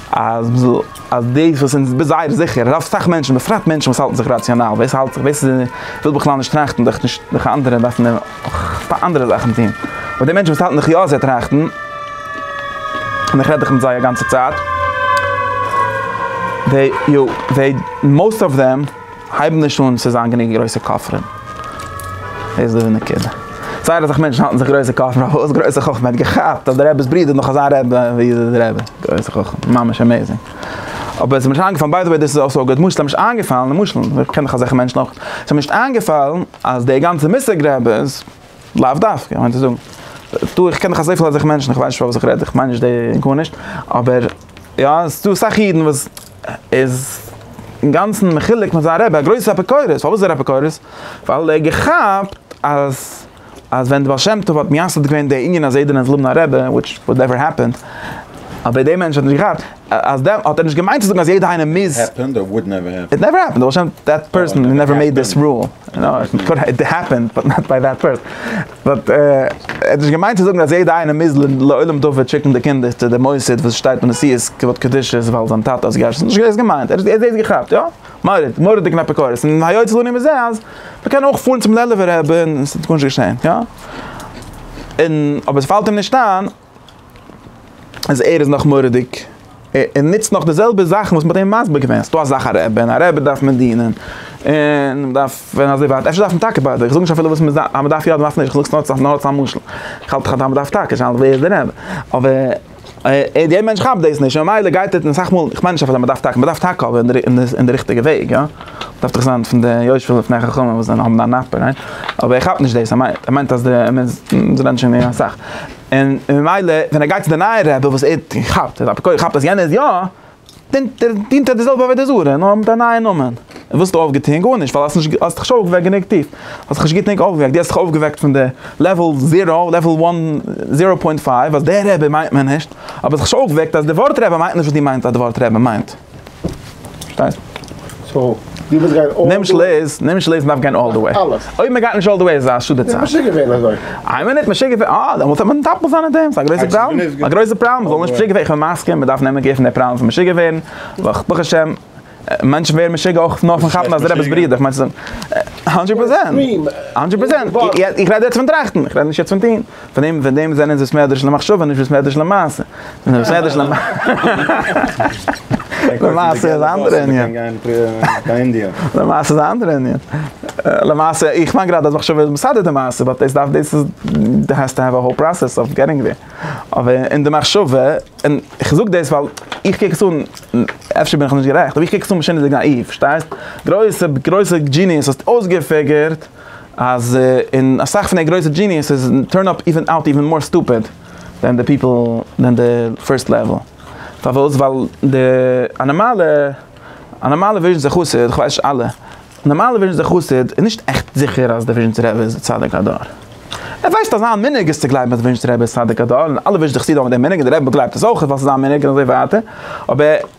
אז אז דאס וואס אונז ביז זייער זיכער אז אסאך מענטשן בפרט מענטשן וואס האלטן זיך ראציאנאל ווער ס'האלט זיך ווער ס'וויל בכלל נישט טראכטן דארף נישט דארף אנדערע דארפן אים פאר אנדערע זאכן טון אבער די מענטשן וואס האלטן זיך יא זיי טראכטן און איך רעד דאך מיט זיי א גאנצע צייט דעי יו דעי מאוסט אוו דעם. הייב נישט אן צו זיין גענוג גרויסע כופרים, דאס איז די נקודה. זייער אסאך מענטשן האלטן זיך גרויסע כופרים, אבער וואס גרויסע חכמה? ער האט געכאפט אז די רעבע'ס ברודער איז נאך אזא רעבע ווי די רעבע, גרויסע חכמה, ממש אמעיזינג. אבער עס איז מיר נישט איינגעפאלן, ביי די וועי דאס איז אויסאגע, למשל עס איז מיר נישט איינגעפאלן, למשל, איך קען דאך אזעלכע מענטשן אויך, עס איז מיר נישט איינגעפאלן אז די גאנצע מושג רעבע'ס, לאו דווקא, כ'מיין צו זאגן, טא, איך קען דאך אזויפיל אזעלכע מענטשן, איך ווייס נישט פארוואס איך רעד, איך מיין נישט די, גארנישט, אבער, יא, עס איז דא אסאך אידן וואס. איז אינגאנצן מחולק מיט זיין רבי, א גרויסע אפיקורס, פארוואס איז ער אפיקורס? ווייל ער האט געכאפט אז אז ווען די בעל שם טוב האט מייסד געווען די ענין אז יעדער נעמט זאגן א רבי, וויטש וואלט נעווער העפענד, אבער דער מענטש האט נישט געכאפט אז דעם האט ער נישט געמיינט צו זאגן אז יעדער איינער מוז. העפענד אר וואלט נעווער העפענד? איט נעווער העפענד, די בעל שם, דעט פערסאן נעווער מעיד דיס רול, איט העפענד באט נאט ביי דעט פערסאן. באט ער האט נישט געמיינט צו זאגן אז יעדע איינער מוז לעולם דופק שיקן די קינדער צו די מוסד וואס שטייט מיט נשיאות כבוד קדושת ווייל זיין טאטע האט געהייסן, נישט דאס געמיינט, ער האט דאס געכאפט יא? מורא'דיג, מורא'דיגן אפיקורס, און היות לנו מזה אז מ'קען אויך פארן צום לעלוב'ער רבי און ס'וועט גארנישט געשען יא? און אבער ס'פאלט אים נישט איין. אז ער איז נאך מורא'דיג, ער נוצט נאך די זעלבע זאכן וואס מ'האט אים מסביר געווען, ס'דא א זאך א רעבע, און א רעבע דארף מען דינען, און מ'דארף ווען אזוי ווייט, אפשר דארף מען טאקע ביידע, איך זאג נישט אפילו וואס מ'דארף, אז מ'דארף יא אדער מ'דארף נישט, איך זאג סתם נאר אלץ א משל, איך האלט דאך אז מ'דארף טאקע, די שאלה איז ווער איז די רעבע, אבער דער מענטש כאפט דאס נישט, ממילא גייט ער, און אסאך מאל, איך מיין נישט אפילו אז מ'דארף טאקע, מ'דארף טאקע אבער אין די ריכטיגע וועג, יא. דאכט זיך זיין פון די יושבי לפני חכמים וואס זענען האבן א נפ ר, אבער ער כאפט נישט דאס, ער מיינט ער מיינט אז די זיי רעדן שוין גענוג אסאך, און ממילא ווען ער גייט צו די נייע רבי וואס ער כאפט אז אפיקורס כאפט אז יענער איז יא, דינט ער דינט ער די זעלבע עבודה זרה נאר מיט א נייע נאמען, און וואס האסטו אויפגעטון? גארנישט ווייל האסט נישט האסט דיך נישט אויפגעוועקט גענוג טיף, האסט דיך נישט גוט גענוג אויפגעוועקט, דו האסט דיך אויפגעוועקט פון די לעוועל זירא, לעוועל וואן, זירא פוינט פייוו אז דער רבי מיינט מער נישט, אבער האסט דיך נישט אויפגעוועקט אז די ווארט רבי מיינט נישט וואס דו מיינסט אז די ווארט רבי מיינט. נעם שלעס, נעם שלעס דארף גיין אלל דע וועי. אויב מען גייט נישט אלל דע וועי איז א שאד די צייט. משוגע געווען אזוי. איי מינוט משוגע געווען אה דעמאלטס האט מען מטפל זיין אין דעם ס'איז א גרויסע פראבלעם. א גרויסע פראבלעם מ'זאל נישט משוגע ווערן איך בין מסכים מ'דארף נעמען קעיר פון די פראבלעם פון משוגע ווערן ווייל ברוך השם מענטשן ווערן משוגע אויך נאר פון כאפן אז די רבי איז ברידער כ'מיין ס'איז הונדרעט פראצענט הונדרעט פראצענט איך רעד יעצט פון טראכטן איך רעד נישט יעצט פון טוהן. פון דעם פון דעם זענען זיי סמעדרעש למחשבה נישט ווי סמעדרעש למעשה. סמעדרעש למ. למעשה איז א אנדערע ענין. למעשה איז א אנדערע ענין. למעשה איך מיין גראדע אז מחשבה איז מסדר די מעשה באט דאס דארף דאס איז די העסט טו העוו א האול פראסעס אויף געטינג דעיר. אבער אין די מחשבה, און איך זאג דאס ווייל איך קוק עס אן, אפשר בין איך נישט גערעכט, אבער איך קוק עס אן בשענער די גנאיוו, פארשטייסט? גרויסע גרויסע דזשיניעס האסט אויסגעפיגערט. אז אין אסאך פון די גרויסע דזשיניעסעס טורן אפ איווען אוט איווען מאר סטופיד דען די פיפל דען די פירסט לעוועל. פארוואס? ווייל די א נארמאלע א נארמאלע וויזשניצער חסיד, כ'ווייס נישט אלע, א נארמאלע וויזשניצער חסיד איז נישט עכט זיכער אז די וויזשניצער רבי איז די צדיק הדור. ער ווייסט אז זיין מנהג איז צו גלייבן אז די וויזשניצער רבי איז צדיק הדור און אלע וויזשניצער חסידים האבן דעם מנהג און די רבי באגלייבט עס אויך ווייל ס'איז זיין מנהג און אזוי ווייטער אבער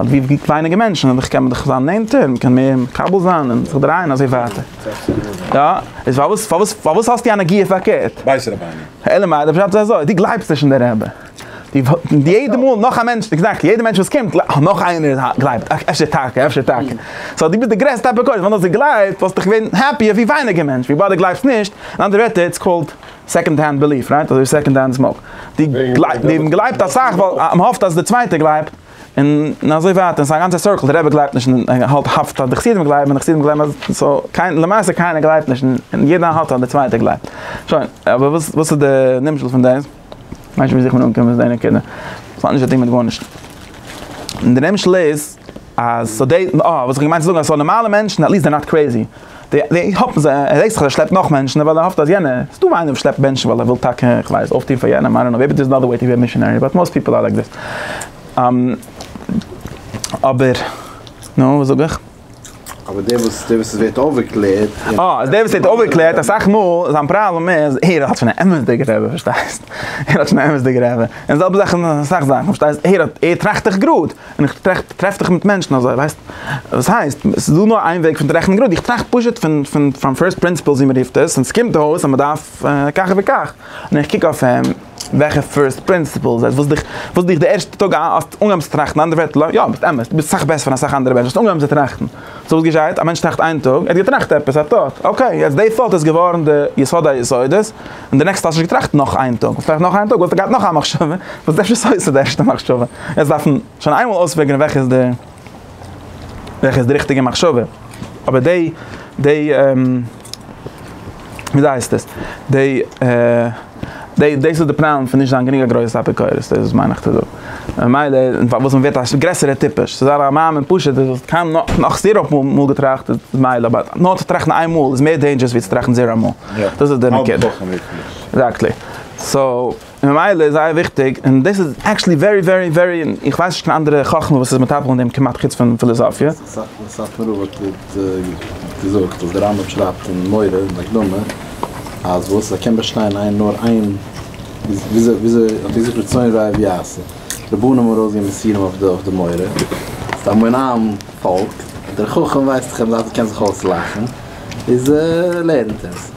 אט ווי ווייניגער מענטשן אדער כ'קען דאך זיין נענטער, מען קען מער מקבל זיין און זיך דרייען אזוי ווייטער. יא, איז פארוואס פארוואס פארוואס האסטו א נגיעה פארקערט? בית רבני. אלא מאי, דער פשט איז אזוי, דו גלייבסט נישט אין די רבי. די יעדע מאל נאך א מענטש, עקזעקטלי, יעדע מענטש וואס קומט, נאך איינער גלייבט, אפשר טאקע, אפשר טאקע. סאו דו ביסט די גרעסטע אפיקורס, ווען דו האסט געגלייבט וואלסטו געווען העפי ווי ווייניגער מענטש, וויבאלד דו גלייבסט נישט, אין אנדערע ווערטער, איטס קאלד סעקאנד הענד בעליף רייט אזוי ווי סעקאנד הענד סמאוק די גלייבן גלייבט אסאך ווייל מען האפט אז די צווייטע גלייבט און אזוי ווייטער ס'איז א גאנצע סורקל די רבי גלייבט נישט און האלט האפט אז די חסידים גלייבן און די חסידים גלייבן אז סאו קיין למעשה קיינער גלייבט נישט און יעדער האפט אז די צווייטע גלייבט שוין אבער וואס וואס איז די נמשל פון דעס? ווייסט ווי אזוי איך בין אנגעקומען צו די נקודה? ס'האט נישט צוטון מיט גארנישט און די נמשל איז אז סאו דעי אה וואס איך האב געמיינט צו זאגן אז סאו נארמאלע מענטשן עטליסט זענען נאט קרעיזי. די האפן זיי, ער דענקט זיך אז ער שלעפט נאך מענטשן ווייל ער האפט אז יענער, ס'איז דא איינער וואס שלעפט מענטשן ווייל ער וויל טאקע, איך ווייס, אויפטון פאר יענעם, איי דאנט נאו, מעיבי דער'ס אנאדער וועי טו בי א מישאנערי, באט מאסט פיפל אר לייק דעט. אבער, נו, וואס זאג איך? אבער דער וואס, דער וואס עס ווערט אויפגעקלערט. אה, אז דער וואס ווערט אויפגעקלערט, אסאך מאל זיין פראבלעם איז, ער האט שוין א אמת'דיגע רבי, פארשטייסט? ער האט שוין א אמת'דיגע רבי. און די זעלבע זאך אין אסאך זאכן, פארשטייסט? ער האט, ער טראכט דאך גראד. און איך טראכט, טרעף דיך מיט מענטשן אזוי, ווייסט וואס הייסט, עס איז דא נאר איין וועג פון צו רעכענען גראד, איך טראכט פשוט פון פון פון פירסט פרינסיפעלס ווי מען רופט עס, און עס קומט אויס אז מען דארף כך וכך, און איך קוק אויף אים, וועלכע פירסט פרינסיפעלס, וואס דיך וואס דיך די ערשטע טאג האסט אנגעהויבן צו טראכטן, אנדערע ווערטער, יא, ביסט אמת, דו ביסט אסאך בעסער פון אסאך אנדערע מענטשן, האסט אנגעהויבן צו טראכטן, סאו וואס געשעהט, א מענטש טראכט איין טאג, ער האט געטראכט עפעס, א טאט, אקעי, יעצט די טאט איז געווארן די יסוד היסודות, און די נעקסטע האסט נישט געטראכט נאך איין טאג, וואלסט געטראכט נאך איין טאג וואלסטו געהאט נאך א מחשבה, וואס דערשט איז אויסער די ערשטע מחשבה, יעצט דארף מען שוין איינמאל אויספעגערן וועלכע איז די וועלכע איז די ריכטיגע מחשבה, אבער די די וויאזוי הייסט עס די די דאס איז די פראבלעם פון נישט זיין גענוג א גרויסע אפיקורס, דאס מיין איך צו זאגן. ממילא און פארוואס מען ווערט א גרעסערע טיפש, ס'איז א מאמין פשוט אז האסט קיין נאך זירא מאל געטראכט איז מילא, אבער נאר צו טראכטן איין מאל איז מער דעינדזשערעס ווי צו טראכטן זירא מאל, דאס איז די נקודה. עקזעקטלי. סאו, ממילא איז זייער וויכטיג, און דאס איז עקטשעלי ווערי ווערי ווערי, איך ווייס נישט קיין אנדערע חכמה וואס איז מטפל אין דעם כמעט חוץ פון פיליזאפיע. סאטמאר רב האט געזאגט אז דער רמב ם שרייבט אין מורה אין הקדמה אז וואס ער קען באשטיין איין נאר איין וויאזוי האט ער געזאגט רצון רע אויב יעשה רבנים האבן ארויס געגעבן מסרים אויף די מורה ס'איז א המון עם פאלק דער חכם ווייסט דאך אז ער קען זיך אויסלאכן איז ער לערנט עס.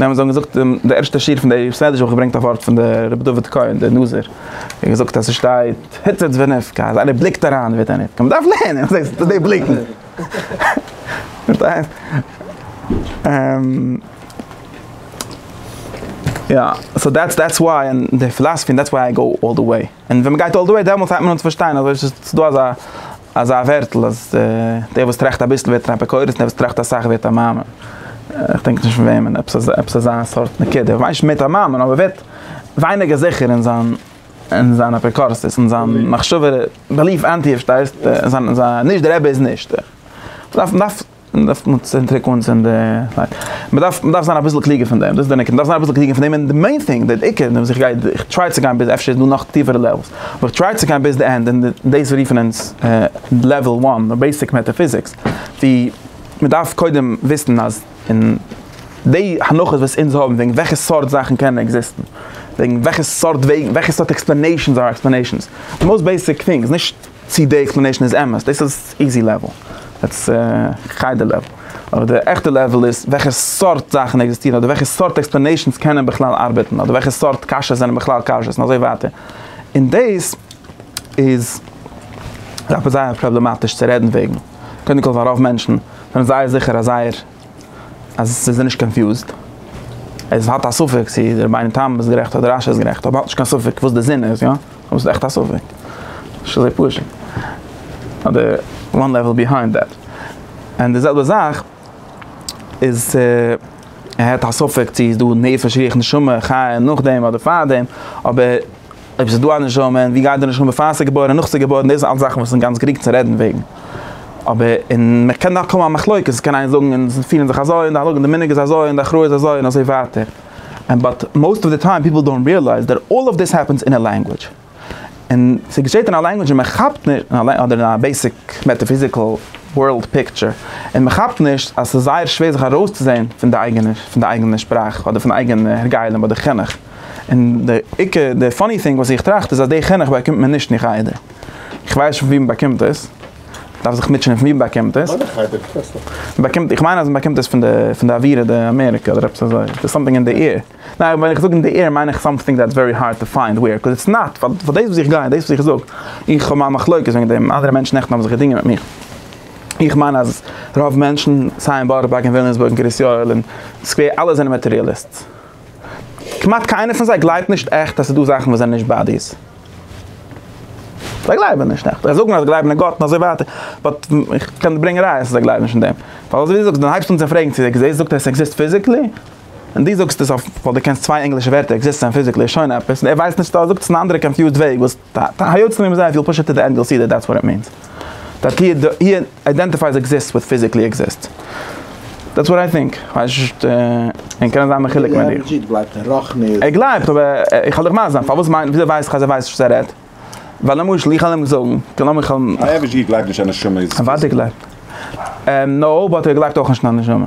ווען מ'האט זיי געזאגט די ערשטע שיעור פון די סדר זיך געברענגט א ווארט פון די רבי דוד כהן די נזיר און געזאגט אז ס'שטייט היצץ ונפקע אז איינער בליקט אריין ווערט ער נפקע מ'דארף לערנען וואס הייסט די בליקן פארשטייסט יא סאו דעטס דעטס וואי און די פילאספי און דעטס וואי איי גאו אלל די וועי. און ווען מ'גייט אלל דע וועי דעמאלטס הייבט מען אן צו פארשטיין אז אויש ס'איז דא אזא אזא ווערטל אז דער וואס טראכט אביסל ווערט אן אפיקורס און דער וואס טראכט אסאך ווערט א מאמין. כ'דענק נישט פון וועמען, עפעס אזא עפעס אזא סארט נקודה. כ'מיין נישט אונבעדינגט א מאמין אבער ווערט ווייניגער זיכער אין זיין אין זיין אפיקורסות אין זיין מחשבה בעליף ענטי פארשטייסט? זיין זיין נישט דער רבי איז נישט. מ'דארף מ'דארף. מען דארף קאנצענטרירן קאנצענטרירן, מען דארף מען דארף זיין אביסל קלוגער פון דעם, דאס איז דער נקודה, מען דארף זיין אביסל קלוגער פון דעם, און די מעין טינג, דער עיקר, און וואס איך גיי, איך טריי צו גיין ביז, אפשר איז דא נאך טיפערע לעוועלס, אבער איך טריי צו גיין ביז די ענד, און דאס רופן אונז לעוועל וואן, די בעיסיק מעטאפיזיקס, ווי מען דארף קודם וויסן אז אין די הנחות וואס אונז האבן וועגן וועלכע סארט זאכן קענען עקזיסטן, וועגן וועלכע סארט וועגן, וועלכע סארט עקספלענעישאנס אר עקספלענעישאנס, די מאוסט בעיסיק טינג, איז נישט. צי די עקספלענעישן איז אמת, דאס איז איזי לעוועל, דעטס חדר לעוועל, אבער די עכטע לעוועל איז וועלכע סארט זאכן עקזיסטירן אדער וועלכע סארט עקספלענעישנס קענען בכלל ארבעטן אדער וועלכע סארט קשיות זענען בכלל קשיות און אזוי ווייטער, און דאס איז זייער פראבלעמאטיש צו רעדן וועגן, קודם כל ווייל רוב מענטשן זענען זייער זיכער אז זייער. אז ס'איז נישט קאנפיוזד, עס האט א ספק צו די רבינו תם איז גערעכט אדער רשי איז גערעכט, אבער האט נישט קיין ספק וואס די זין איז, יא? דאס איז עכט א ספק. נישט אזוי פשוט. אדער וואן לעוועל ביהיינד דעט. און די זעלבע זאך איז צו ער האט א ספק צו איז דא נפש רוח נשמה חיה נאכדעם אדער פארדעם, אבער. אויב ס'איז דא א נשמה, און ווי גייט די נשמה פאר ס'איז געבוירן און נאך ס'איז געבוירן, דאס זענען אלץ זאכן וואס איז גאנץ גרינג צו רעדן וועגן. אבער, און מ'קען דאך האבן א מחלוקת, ס'קען איינער זאגן און זיי פירן זיך אזוי, און די הלכה און די מנהג איז אזוי, און די הכרעה איז אזוי, און אזוי ווייטער. און באט מאוסט אוו די טיים פיפל דאנט ריעלייז דעט אלל אוו דיס העפענס אין א לענגווידזש. און ס'געשעט אין א לענגווידזש און מ'כאפט נישט, אדער אין א בעיסיק מעטאפיזיקל ווארלד פיקטשער, און מ'כאפט נישט אז ס'איז זייער שווער זיך ארויסצוזען פון די אייגענע, פון די אייגענע שפראך, אדער פון די אייגענע הרגלים אדער חינוך. און דער עיקר, דער פאני טינג וואס איך טראכט איז אז די חינוך באקומט מען נישט אין חדר. איך ווייס נישט וואו מען באקומט עס. מען דארף זיך מוטשענען וואו מען באקומט עס. מען באקומט, איך מיין אז מען באקומט עס פון די, פון די אווירא די אמעריקא אדער עפעס אזוי. ס'איז סאמטינג אין די עיר. ניין, ווען איך זאג אין די עיר מיין איך סאמטינג דעטס ווערי הארד טו פיינד וועיר, קאז איטס נאט, פאר דאס וואס איך גיי, דאס וואס איך זאג, איך האב מיין מחלוקת וועגן דעם, אנדערע מענטשן נעכטן האבן זיך געדינגען מיט מיך. איך מיין אז רוב מענטשן, סיי אין בארא פארק, אין וויליאמסבורג, אין קרית יואל, אין סקווער, אלע זענען מאטעריאליסטס. כמעט קיינער פון זיי גלייבט נישט עכט אז ס'איז דא זאכן וואס זענען נישט באדיס. זיי גלייבן נישט עכט. זיי זאגן אז זיי גלייבן אין גאט און אזוי ווייטער, באט איך קען דיר ברענגען ראיות אז זיי גלייבן נישט אין דעם. ווייל אזוי ווי דו זאגסט, ווען הייבסט אן צו פרעגן צו עקזיסט, זאגט ער עס עקזיסט פיזיקלי, און דו זאגסט עס אויף ווייל דו קענסט צוויי ענגלישע ווערטער עקזיסט און פיזיקלי איז שוין עפעס, און ער ווייסט נישט צו ער זאגט עס אין א אנדערע קאנפיוזד וועג וואס. די היוצרים האבן זייער פיל פשוט'ער די ענגעל סידער דעטס וואט איט מינס דעט הי איידענטיפייס עקזיסטס וויט פיזיקלי עקזיסטס דעטס וואט איי טינק כ'ווייס נישט און קען זיין מחולק מיט דיר. ער גלייבט אין רוחניות. ער גלייבט אבער איך וועל דיך מסביר זיין פארוואס מיינט וויאזוי ווייסט איך אז ער ווייסט נישט וואס ער רעדט ווייל למשל איך וועל אים זאגן כ'גלייב נאר איך וועל. א עבש ג גלייבט נישט אז נשמה איז פיזי. אוודאי גלייבט ער. נאו באט ער גלייבט אויך נישט אין א נשמה.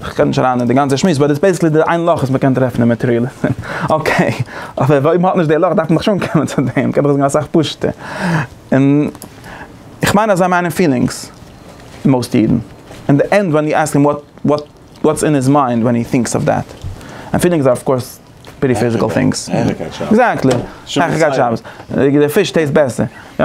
איך קען נישט אריין אין די גאנצע שמועס, באט איטס בעסיקלי די איין לאך וואס מען קען טרעפן אין מאטעריאליזם. אקעי, אבער אויב מען האט נישט די לאך דארף מען דאך שוין קומען צו דעם, קען דאך זאגן אסאך פשוט'ער. און איך מיין אז זיי מיינען פילינגס, מאוסט אידן. אין די ענד ווען יו עסק הים וואט וואטס אין היז מיינד ווען הי טינקס אויף דעט. און פילינגס אר אף קאורס פרעטי פיזיקעל טינגס. העכערקייט שאפס. עקזעקטלי. העכערקייט שאפס. די פיש טעיסט בעסער. יא.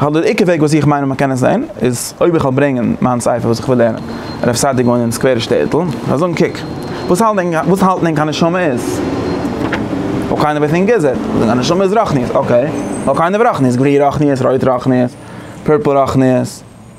כ'האלט דער עיקר וועג וואס איך מיין אז מען קען עס זען איז אויב איך וועל ברענגען מיין ספר וואס איך וויל לערנען רב סעדיג וואוינט אין סקווערע שטעטל און כ'וועל זאגן קוק וואס האלט ענק וואס האלט ענק א נשמה איז אויב קיינער ווייסט ענק איז ער וועט זאגן א נשמה איז רוחניות אקעי נאר קיינער רוחניות גרי רוחניות רויט רוחניות פורפל רוחניות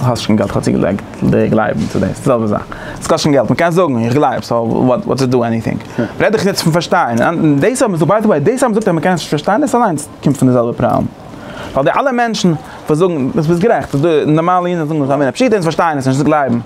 האסט נישט קיין געלט כ'האב צוגעלייגט די גלייבן צו דאס, די זעלבע זאך, עס קאסט שוין געלט, מען קען זאגן איך גלייב סאו וואט וואט איז דא עניטינג, רעד איך יעצט פון פארשטיין, דאס האבן זיי ביי די וועי, דאס האבן זיי געזאגט אז מען קען עס נישט פארשטיין דאס אליינס קומט פון די זעלבע פראבלעם, ווייל די אלע מענטשן וואס זאגן, דו ביסט גערעכט, נארמאלע אידן זאגן זיי זענען פשוט אונז פארשטייען עס נישט אונז גלייבן.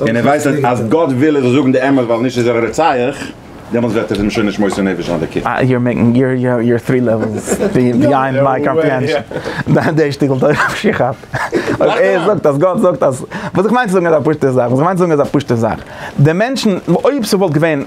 און ער ווייסט אז אז גאט וויל איך זאל זאגן די אמת ווייל נישט איז ער א רוצח, דעמאלטס וועט ער אים שוין נישט מוסר נפש זיין דערקעגן. אה יור מעקינג יור יור יור טרי לעוועלס ביהיינד מיי קאמפריהענשאן. די שטיקל תורה וואס איך האב. אויב ער זאגט אז גאט זאגט אז. וואס איך מיין צו זאגן איז א פשוטע זאך. וואס איך מיין צו זאגן איז א פשוטע זאך. די מענטשן אויב ס'וואלט געווען.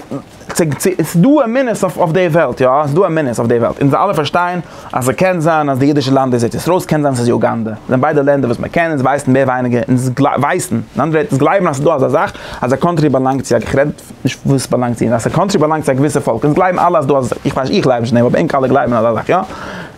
ס'איז דא אמונות אויף די וועלט יא, ס'איז דא אמונות אויף די וועלט, אונז אלע פארשטייען אז ס'קען זיין אז די אידישע לאנד איז ארץ ישראל, ס'קען זיין ס'איז יוגאנדע, ס'זענען ביידע לענדער וואס מ'קען, אונז ווייסן מער ווייניגער, אונז ווייסן, אין אנדערע ווערטער אונז גלייבן אז ס'איז דא אזא זאך אז א קאנטרי באלאנגט צו א, איך רעד נישט וואס ס'באלאנגט צו, אז א קאנטרי באלאנגט צו א געוויסע פאלק, אונז גלייבן אלע אז דא, איך ווייס נישט איך גלייב נישט אין דעם אבער ענק אלע גלייבן אזא זאך יא.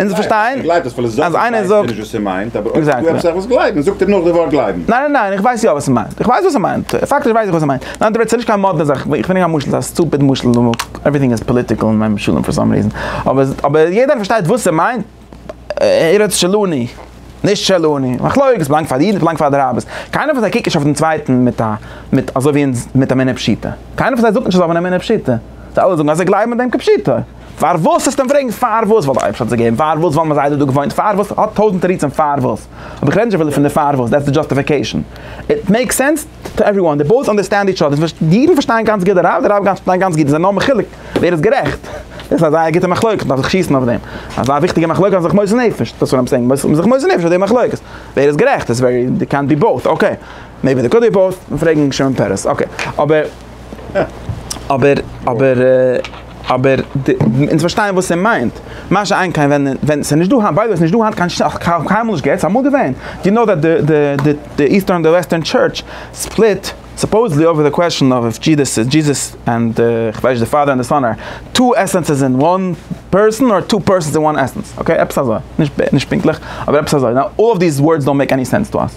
אונז פארשטיין אז איינער זאגט. ניין ניין ניין איך ווייס יא וואס ער מיינט, איך ווייס וואס ער מיינט, פאקטיש ווייס איך וואס ער מיינט, ניין דו רעדסט נישט קיין מאדנע זאך, איך ברענג א משל, א סטופיד משל, עווריטינג איז פאליטיקעל אין מיין משלים פאר סאם ריזען, אבער יעדער פארשטייט וואס ער מיינט, ארץ שלוני, נישט שלוני, מחלוקת איז בלאנגט פאר די אידן, בלאנגט פאר די רבי'ס, קיינער פון זיי קוקט נישט אויף דעם צווייטן מיט א מיט אזוי ווי אונז מיט אמינא פשיטא, קיינער פון זיי זאגט נישט אז עס איז אן אמינא פשיטא, זיי אלע זאגן אז זיי גלייבן אין דעם כפשיטו. פארוואס וועסטו אים פרעגן פארוואס? ווייל די אייבערשטער האט עס געגעבן, פארוואס ווייל מ'איז איידער דא געוואוינט, פארוואס האט טויזנט תירוצים פארוואס, אבער כ'רעד נישט אפילו פון די פארוואס, דעטס די דזשאסטיפיקעישאן, איט מעיקס סענס טו עוועריוואן, די באות אנדערסטענד איטש אדער, די אידן פארשטייען גאנץ גוט די רב, די רב פארשטייט גאנץ גוט, עס איז נאר מחולק ווער איז גערעכט, דאס איז א זייער גוטע מחלוקת, מ'דארף זיך שיסן אויף דעם, אזא וויכטיגע מחלוקת אז מ'זיך מוסר נפש, דאס וואט איים סעינג, מ'מוז זיך מוסר נפש אויף די מחלוקת, ווער איז גערעכט, איטס ווערי, דער קענט בי באות, אקעי, מעיבי דער קאלד בי באות, מ'פרעגן שמעון פערעס, אקעי, אבער. אבער אבער אבער אונז פארשטייען וואס ער מיינט, מה שאין כן ווען ווען ס'איז נישט דא היינט, ביי די וועי ס'נישט דא היינט קיין שטאט, קיינמאל נישט געהעצט, אמאל געווען, יו נאו דעט די די די איסטערן און די וועסטערן טשורטש ספליט סופאוזעדלי אויווער די קוועשען אוו איף דזשידעס איז דזשיזעס ענד די כ'ווייס נישט די פאדער און די סאן אר טו עסענסעס אין וואן פערסאן אר טו פערסאנס אין וואן עסענס, אקעי עפעס אזוי, נישט נישט פונקטליך אבער עפעס אזוי, נאו אלל אוו דיס ווארדס דאנט מעיק עני סענס טו אס.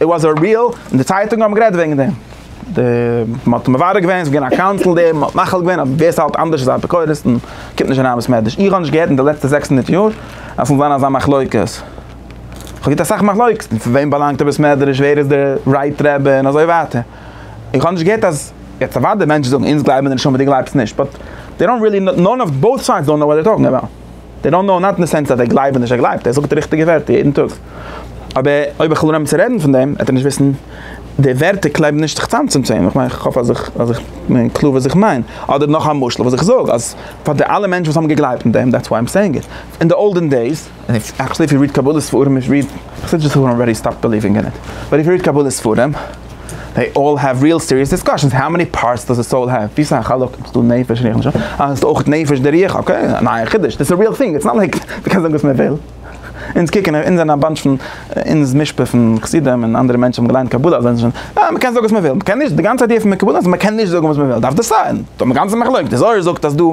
איט וואס א ריעל, און די צייטונגען האבן גערעדט וועגן דעם, מען האט מברר געווען, ס'איז געווען א קאונסיל דערין, מען האט מחיל געווען אז ווער ס'האלט אנדערש איז א אפיקורס און קומט נישט אריין אין בית מדרש, איך האב נישט געהערט אין די לעצטע זעקס הונדערט יאר אז ס'זאל זיין אזא מחלוקת, כ'האב געהערט אסאך מחלוקת, פון וועם באלאנגט די בית מדרש, ווער איז די רייט רבי און אזוי ווייטער, איך האב נישט געהערט אז, יעצט אוודאי מענטשן זאגן אונז גלייבן אין די נשמה די גלייבסט נישט, באט דעי דאנט ריעלי נאו, נאן אוו באות סיידס דאנט נאו וואט זיי טאלקינג אבאוט. דעי דאנט נאו נאט אין די סענס אז דער גלייבט און נישט ער גלייבט, ער זאגט די ריכטיגע ווערטער יעדן טאג, אבער אויב איך וויל אנהייבן צו רעדן פון דעם וועט ער נישט וויסן די ווערטער קלעבן נישט זיך צאם צום צען, איך מיין איך האף אז איך אז איך בין קלאר וואס איך מיין, אדער נאך א משל וואס איך זאג אז פאר די אלע מענטשן וואס האבן געגלייבט אין דעם דעטס וויי איים סעיאינג איט, אין די אולדען דעיס, עקטשעלי איף יו ריעד קבלה ספרים, איך ריעד, איך זע דזשאסט האב ארעדי סטאפט בעליווינג אין איט, באט איף יו ריעד קבלה ספרים. זיי אלל העוו ריעל סיריעס דיסקאשענס, האו מעני פארטס דאז א סאול העוו, וויפיל א חלק איז דא נפש רוח נשמה, אה איז דא אויך נפש די רוח, אקעי א נייע חידוש, דאס איז א ריעל טינג, איטס נאט לייק מען קען זאגן וואס מען וויל, אונז קוקן אונז זענען א באנטש פון אונז משפחה פון חסידים און אנדערע מענטשן האבן געליינט קבלה אזוי זענען שוין אה מען קען זאגן וואס מען וויל, מען קען נישט, די גאנצע איידיע פון די קבלה איז מען קען נישט זאגן וואס מען וויל, דארף דאס זיין, דא האבן מיר גאנצע מחלוקת, די זוהר זאגט אז דא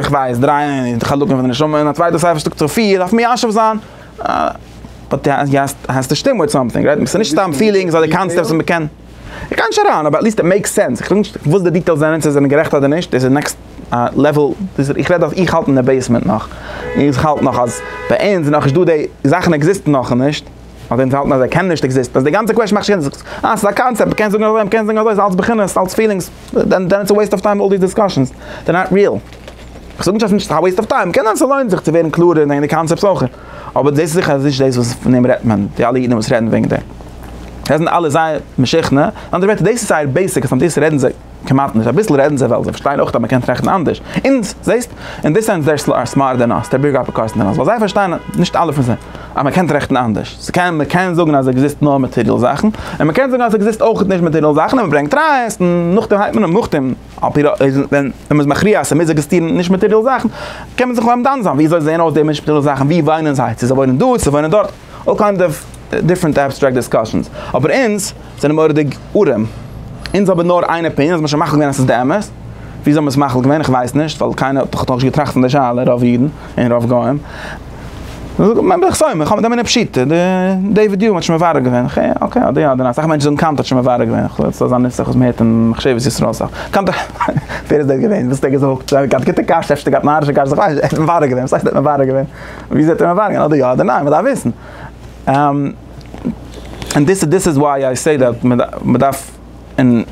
כ'ווייס דריי חלקים פון די נשמה, און א צווייטע ספר שטאקט זיך פיר, דארף מיישב זיין. באט די האסט א שטימע וויט סאמטינג רייט מיר, ס'איז נישט סתם פילינגס אדער קאנסעפטס וואס מ'קען, איך גיי נישט אריין אבער עטליסט איט מעיקס סענס, איך זאג נישט וואס די דיטעילס זענען צו עס זענען גערעכט אדער נישט, דאס איז נעקסט לעוועל, איך רעד אז איך האלט אין די בעיסמענט נאך, איך האלט נאך אז ביי אונז איז נאכנישט דא די זאכן עקזיסטן נאכנישט, אדער אונז האלטן אז זיי קענען נישט עקזיסטן, אז די גאנצע קוועשן מאכט נישט זיך, אה ס'איז א קאנצעפט, מ'קען זאגן אזוי מ'קען זאגן אזוי, ס'איז אלץ בחינות, אלץ פילינגס, דען איטס א וועיסט אוו טיים אלל דיס דיסקאשענס, דער נאט ריעל. כ'זאג נישט אז ס'נישט א וועיסט אוו טיים, קען זיין ס'לוינט זיך צו ווערן קלארער אין די קאנצעפטס אויך, אבער דאס איז זיכער אז נישט דאס וואס פון דעם רעדט מען, די אלע אידן וואס רעדן וועגן דעם, זיי זענען אלע זייער משוכנע, אין אנדערע ווערטער דאס איז זייער בעיסיק אז פון דאס רעדן זיי כמעט נישט, אביסל רעדן זיי ווייל זיי פארשטייען אויך אז מ'קען טראכטן אנדערש, אונז, זעהסט? אין די סענס זיי אר סמארטער דען אס, דער בירגער האט אפיקורסים דען אס, ווייל זיי פארשטייען, נישט אלע פון זיי, אז מ'קען טראכטן אנדערש, ס'קען, מ'קען זאגן אז עקזיסט נאר מאטעריעל זאכן, און מ'קען זאגן אז עקזיסט אויכעט נישט מאטעריעל זאכן, און מ'ברענגט טרייסט, און נאכדעם הייבט מען אן מוכתים. על פי רוב איז ווען מען איז מכריע אז ס'מוז עקזיסטירן נישט מאטעריאל זאכן, קען מען זיך אומדן זיין, וויאזוי זעען אויס די נישט מאטעריאל זאכן, ווי וואוינען זיי, צו זיי וואוינען דא, צו זיי וואוינען דארט, אלל קיינד אוו דיפרענט עבסטרעקט דיסקאשענס, אבער אונז זענען מורא'דיג ארעם, אונז האבן נאר איין אפיניען, אז מ'האט שוין מחליט געווען אז ס'איז די אמת, וויאזוי האט מען עס מחליט געווען, איך ווייס נישט, ווייל קיינער האט דאך נאכנישט געטראכט פון די שאלה, רוב אידן און רוב גוים. מען בלעך סאומער האבן דעם פשיטע די ווי די האט שוין מברר געווען איך אקעי אדער אדער אסאך מענטשן זאגן קאנטער שוין מברר געווען איך זאל זיין נוסח וואס מען הערט אין מחשבת ישראל סאך קאנטער ווער איז דער געווען וואס האט ער געזאגט זיי גאט גוטע קשיא אפשר געהאט נארישע קשיות איך ווייס נישט מברר געווען וואס הייסט מברר געווען ווי זעט ער מברר געווען אדער יא אדער ניין מען דארף וויסן און דיס איז דיס איז וויי איי סעי דעט מען דארף. און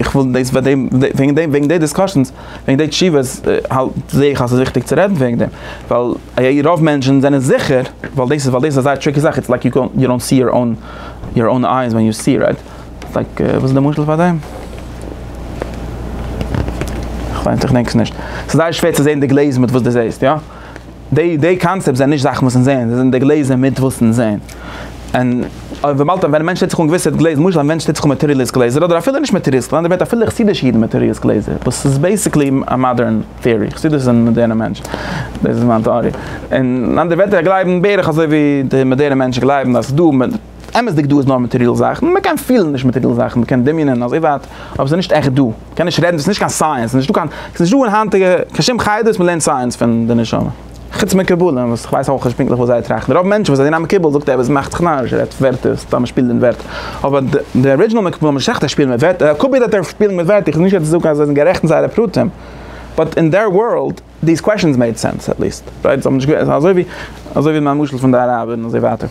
איך וויל דאס ביי דעם, וועגן דעם, וועגן די דיסקאשענס, וועגן די תשובות, האלט זע איך אז ס'איז וויכטיג צו רעדן וועגן דעם, ווייל א י רוב מענטשן זענען זיכער, ווייל דאס איז, ווייל דאס איז א זייער טריקי זאך, איטס לייק יו יו דאנט סי יור אוין, יור אוין אייז ווען יו סי, רייט? איטס לייק, וואס איז די משל פאר דעם? כ'ווייס, איך דענק עס נישט. ס'איז זייער שווער צו זען די גלעז מיט וואס דו זעסט, יא? די די קאנצעפט זענען נישט זאכן וואס אונז זעען, זיי זענען די גלעזער מיט וואס אונז זעען. און אויב וויבאלד ווען א מענטש טוט זיך אן געוויסע גלעזער, למשל א מענטש טוט זיך אן מעטעריאליסט גלעזער, אדער אפילו נישט מעטעריאליסט, אדער בעט אפילו חסידישע אידן מעטעריאליסט גלעזער, וואס איז בעיסיקלי א מאדערן טעארי, חסידות איז א מאדערנע מענטש, דאס איז מיין טעארי, און אנדערע ווערטער זיי גלייבן בערך אזוי ווי די מאדערנע מענטשן גלייבן אז ס'איז דא. אמת'דיג דא איז נאר מעטעריעל זאכן, מען קען פילן נישט מעטעריעל זאכן, מען קען דמיונ'ען אז איר ווארט, אבער ס'איז נישט עכט דא, מען קען נישט רעדן, דאס איז נישט קיין סייענס, ס'איז נישטא קיין, ס'איז נישטא אין היינטיגע קיין שום חדר וואס מען לערנט סייענס פון די נשמה, חוץ מקובלים וואס איך ווייס אויך נישט פונקטליך וואס זיי טראכטן, רוב מענטשן וואס זענען א מקובל זאגט ער וואס מאכט זיך נאריש, ער רעדט ווערטער, סתם ער שפילט מיט ווערטער, אבער די ארידזשינעל מקובלים האבן נישט עכט א שפיל מיט ווערטער, קאפירט האט ער שפיל מיט ווערטער, איך וויל נישט יעצט זאגן אז זיי זענען גערעכט אין זייערע פרטים, באט אין דער ווארלד. דיז קוועשאנס מעיד סענס עט ליעסט רייט זיי האבן נישט געווען ס'איז אזוי ווי אזוי ווי מיין משל פון די אראבער און אזוי ווייטער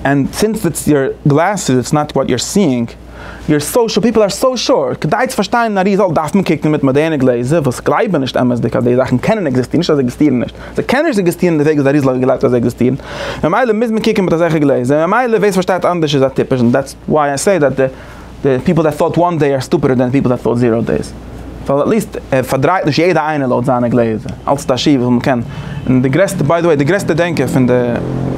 ענד סינס איטס יור גלעסעס איטס נאט וואט יור סיאינג יור סאושעל פיפל אר סאו שארט כדי צו פארשטיין א ריזאלט דארף מען קוקן מיט מאדערנע גלעזער וואס גלייבן נישט אמת'דיג אז די זאכן קענען עקזיסטירן נישט אז זיי עקזיסטירן נישט זיי קענען נישט עקזיסטירן די וועג ווי די אריז ל האט געגלייבט אז זיי עקזיסטירן ממילא מוז מען קוקן מיט אזעלכע גלעזער ממילא ווער ס'פארשטייט אנדערש איז א טיפש און דעטס וואי איי סעי דעט די די פיפל דעט טאוט וואן דעי אר סטופידער דען פיפל דעט טאוט זירא דעיס, ווייל עטליסט ער פארדרייט נישט יעדע איינע לויט זיינע גלעזער, אלץ איז א שיעור וואס מ'קען, און די גרעסטע ביי די וועי די גרעסטע דענקער פון די,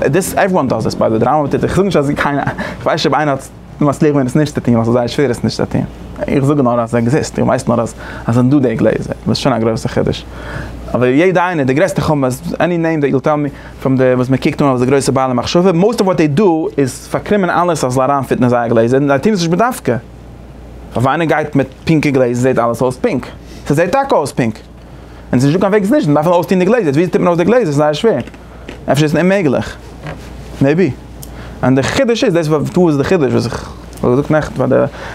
דיס עוועריוואן דאז דיס ביי די וועי, די רמב ם טוט עס, איך זאג נישט אז קיינער, איך ווייס נישט אויב איינער האט מצליח געווען עס נישט צו טוהן ווייל ס'איז זייער שווער עס נישט צו טוהן, איך זאג נאר אז עס עקזיסט, איך ווייס נאר אז עס זענען דא די גלעזער, וואס איז שוין א גרויסע חידוש, אבער יעדע איינער, די גרעסטע חמאס, עני נעים דעט יו וויל טעל מי. פון די וואס מען קוקט אן אלס די גרויסע בעלי מחשבה, מאוסט אוו וואט דעי דא איז פארקרימען אלעס אז זאל אריינפיטן אין זייער גלעזער, און זיי טוהן עס נישט בדווקא. פארוואו איינער גייט מיט פינקע גלעזער זעהט אלעס אויס פינק. ס'זעהט טאקע אויס פינק. און ס'איז נישטא קיין וועג עס נישט, מ'דארף נאר אויסטוהן די גלעזער. ווי טוט מען אויס די גלעזער? ס'איז זייער שווער. אפשר איז עס אוממעגליך. מעיבי. און די חידוש איז, דאס איז וואס איז די חידוש וואס איך האב געזאגט נעכטן פאר די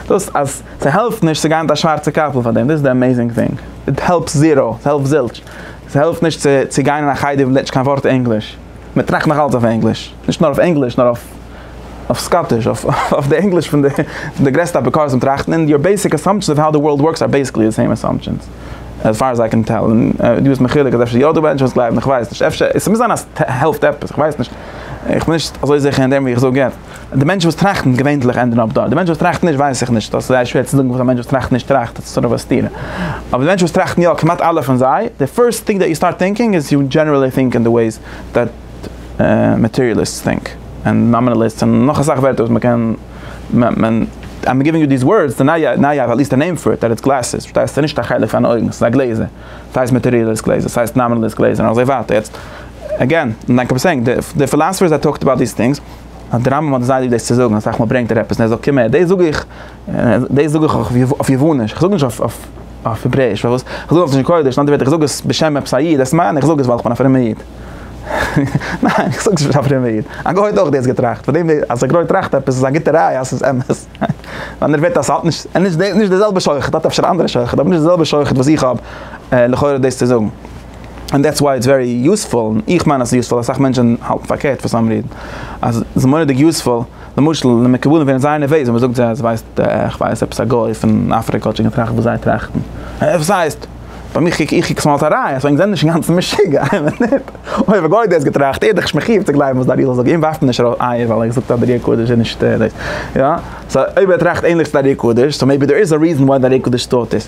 דאס אז ס'העלפט נישט צו גיין מיט א שווארצע קאפל פאר דעם. דאס איז די עמעיזינג טינג. איט העלפס זירא. ס'העלפט זילטש. ס'העלפט נישט צו צו גיין אין א חדר וואס מען רעדט נישט קיין ווארט ענגליש, מען טראכט נאך אלץ אויף ענגליש, נישט נאר אויף ענגליש נאר אויף אויף סקאטיש, אויף די ענגליש פון די פון די גרעסטע אפיקורסים טראכטן, און יור בעיסיק אסאמפשענס אוו האו די ווארלד ווארקס אר בעיסיקלי די סעים אסאמפשענס עז פאר עז איי קען טעל, און דו ביסט מחולק אז אפשר יא דא מענטשן וואס גלייבן, איך ווייס נישט, אפשר, עס מוז זיין אז ס'העלפט עפעס, איך ווייס נישט, איך בין נישט אזוי זיכער אין דעם ווי איך זאג יעצט. די מענטשן וואס טראכטן געווענדליך ענדן אפ דארט. די מענטשן וואס טראכטן נישט ווייס איך נישט. דאס איז זייער שווער צו זאגן וואס א מענטש וואס טראכט נישט טראכט. דאס איז סארט אוו א סתירה. אבער די מענטשן וואס טראכטן יא, כמעט אלע פון זיי, די פירסט טינג דעט יו סטארט טינקינג איז יו דזשענערעלי טינק אין די וועיס דעט מאטעריאליסטס טינק, און נאמינעליסטס און נאך אסאך ווערטער וואס מ'קען מען איים גיווינג יו דיס ווארדס די נייע נייע האט עטליסט א נעים פאר איט דעט איז גלעסעס פארשטייסט ס'איז נישט א חלק פון אויגן ס'איז א גלעזער. ס'הייסט מאטעריאליסט גלעזער ס'הייסט נאמינעליסט גלעזער און אזוי ווייטער. יעצט עגעין, לייק אוו סעינג, די פילאסעפערס דעט טאלקד אבאוט דיס טינגס. אז די רמב ם האט דערציילט ווי דאס צו זאגן, אז סאך מאל ברענגט ער עפעס און ער זאגט קום הער, דאס זאג איך, דאס זאג איך אויף יווניש, כ'זאג נישט אויף העברעיש, פארוואס? כ'זאג אויף לשון קודש, אין אנדערע ווערטער כ'זאג עס בשם עפעס א איד, דאס מיין איך זאג עס ווייל כ'בין א פרומער איד. ניין, איך זאג עס בשם א פרומער איד. א גוי האט אויך דאס געטראכט, פאר דעם אז א גוי טראכט עפעס איז א גוטע ראיה אז ס'איז אמת. ווייל ער וועט אז ס'האט נישט, נישט די זעלבע שוחד, האט אפשר א אנדערע שוחד, אבער נישט די זעלבע שוחד וואס איך האב, לכאורה דאס צו זאגן. און דעטס וויי איטס ווערי יוספול, און איך מיין אז ס'איז יוספול, אסאך מענטשען האלטן פארקערט פאר סאם ריזען אז ס'איז מורא'דיג יוספול, למשל אין די מקובלים ווערן זייער נערוועז ווען מ'זאגט זיי אז ווייסט איך ווייס עפעס א גוי פון אפריקא האט שוין געטראכט וואס זיי טראכטן, אה וואס הייסט? ביי מיך איך קוק עס נאר אלס א ראיה אז ענק זענען נישט אינגאנצן משוגע, אמת ניט? אויב א גוי האט דאס געטראכט איז ער דאך נישט מחיוב צו גלייבן וואס דער ארי זאל זאגן, אים ווארפט מען נישט ארויס אייער ווייל ער זאגט אז דער ארי הקדוש איז נישט דאס, יא? סא אויב ער טראכט ענליך צו דער ארי הקדוש, סא מעיבי דער איז א ריזען וויי דער ארי הקדוש טוט עס.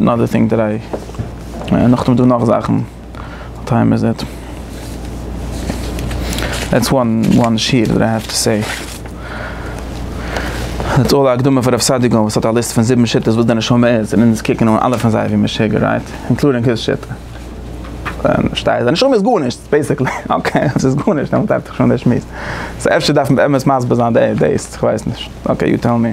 אנאדער טינג טודעי, און נאכדעם איז דא נאך זאכן, וואט טיים איז איט? דעטס וואן שיעור דעט איי העוו טו סעי, דעטס אלל א הקדמה פאר רב סעדיגורא וואס האט א ליסט פון זיבן שיטות וואס די נשמה איז, און אונז קוקן אן אלע פון זיי ווי משוגע רייט? אינקלודינג היז שיטה, פארשטייסט? די נשמה איז גארנישט בעיסיקלי, אקעי אז ס'איז גארנישט דעמאלט ארבעט דאך שוין דער שמועס, סאו אפשר דארף מען באמת מסביר זיין דעיס, כ'ווייס נישט, אקעי יו טעל מי.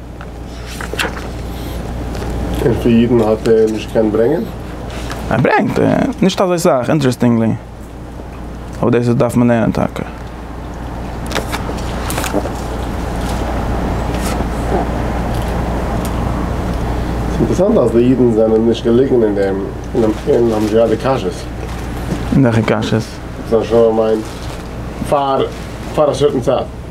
און פאר אידן האט ער נישט געקענט ברענגען? ער ברענגט, נישט אזוי סאך, אינטערעסטינגלי. אבער דאס איז דארף מען לערנען טאקע. ס'איז אינטערעסאנט אז די אידן זענען נישט געליגן אין דעם און האבן נישט געהאט די קשיות. וועלכע קשיות? זיי האבן שוין באמיינט פאר א סערטען צייט.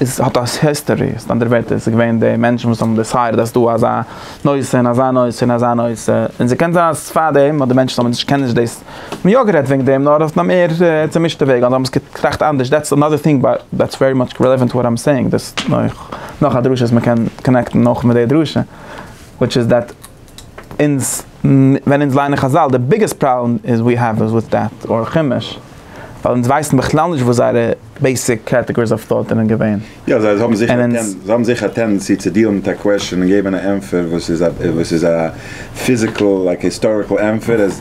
עס האט א היסטארי, מיט אנדערע ווערטער עס איז געווען די מענטשן וואס האבן דיסיידעד אז ס'דא אזא נושא און אזא נושא און אזא נושא, און ס'קען זיין אז פארדעם האט די מענטשן האבן נישט קענען נישט דאס, האבן יא גערעדט וועגן דעם נאר אויף א מער צומישטע וועג, אדער האבן עס געטראכט אנדערש, דעטס אנאדער טינג באט דעטס ווערי מאטש רעלעווענט וואט איים סעיאינג, דאס איז נאך א דרשה וואס מ'קען קאנעקטן נאך מיט די דרשה וויטש איז דעט. אונז ווען אונז ליינען חזל די ביגעסט פראבלעם איז ווי העוו איז וויט דעט אר חומש ווייל אונז ווייסן בכלל נישט וואס זייערע בעיסיק קעטעגאריס אוו טאוט זענען געווען יא זיי האבן זיכער א טענדענסי זיי האבן זיכער א טענדענסי צו דיעלן מיט א קוועשאן און געבן א ענפער וואס איז א וואס איז א פיזיקעל לייק היסטאריקעל ענפער עס.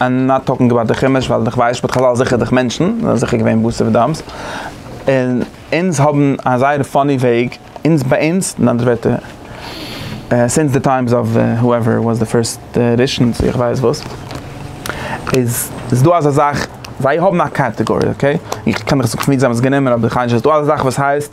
איים נאט טאלקינג אבאוט די חומש ווייל איך ווייס שבט חזל זיכער דורך מענטשן זענען זיכער געווען בשר ודם'ס און אונז האבן א זייער פאני וועג אונז ביי אונז אין אנדערע ווערטער סינס די טיימס אוו הואעווער איט וואס די פירסט ראשון צו איך ווייס וואס איז איז דא אזא זאך זיי האבן א קאטעגארי אקעי איך קען נישט זאגן פון ווי זיי האבן עס גענומען אבער איך האלט נישט ס'איז דא אזא זאך וואס הייסט.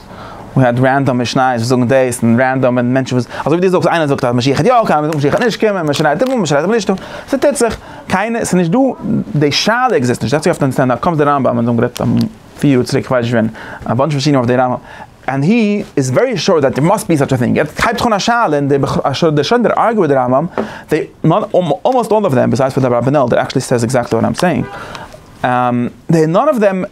און האט רענדאם משניות וואס זאגן דאס, און רענדאם ווען מענטשן וואס, אזוי ווי דו זאגסט איינער זאגט אז משיח וועט יא קומען, משיח וועט נישט קומען, מען שרייט אים אן, מען שרייט אים נישט אן, ס'טוט זיך, קיינער, ס'איז נישט דא, די שאלה עקזיסט נישט, זעצט זיך אויף די קאמסט די רמב ם, אזוי גערעדט פיר יאר צוריק כ'ווייס נישט ווען, א באנטש פון שיעורים אויף די רמב ם, ענד הי איז ווערי שור דעט דער מאסט בי סאטש א טינג, יעצט הייבט זיך אן א שאלה און די בחור אשר דער שוין דער ארגו מיט די רמב ם, דעי אלמאסט אלל אוו דעם, ביז אויס פאר די אברבנאל דער עקטשעלי סעיז עקזעקטלי וואט איים סעיאינג, דעי נאן אוו דעם.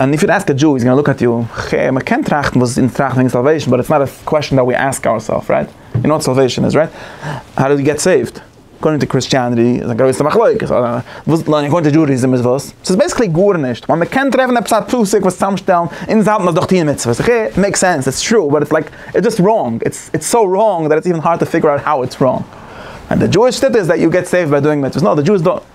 אנד איף יו עסק א דזשוי איז גאנא לוק עט יו, ח, מען קען טראכטן וואס אונז טראכטן וועגן סאלוועישן באט איטס נאט א קוועשן דעט ווי עסק אוירסעלף רייט, יו נאו וואט סאלוועישן איז רייט? האו דו געט סעיווט? אקארדינג טו קריסטיאנעטי איז א גרויסע מחלוקת, וואס נאר אקארדינג טו דזשודיזים איז וואס? ס'איז בעסיקלי גארנישט, ווייל מען קען טרעפן עפעס א פסוק וואס צוזאמשטעלן, אונז האלטן אז דורך טוען מצוות, ח, מעיק סענס, איטס טרו, באט איטס לייק, איטס דזשאסט ראנג, איטס סאו ראנג דעט איטס איווען הארד טו פיגור אוט האו איטס ראנג. אנד די דזשואיש שיטה איז דעט יו געט סעיווט ביי דואינג מצוות, נאו די דזשואיס דאנט.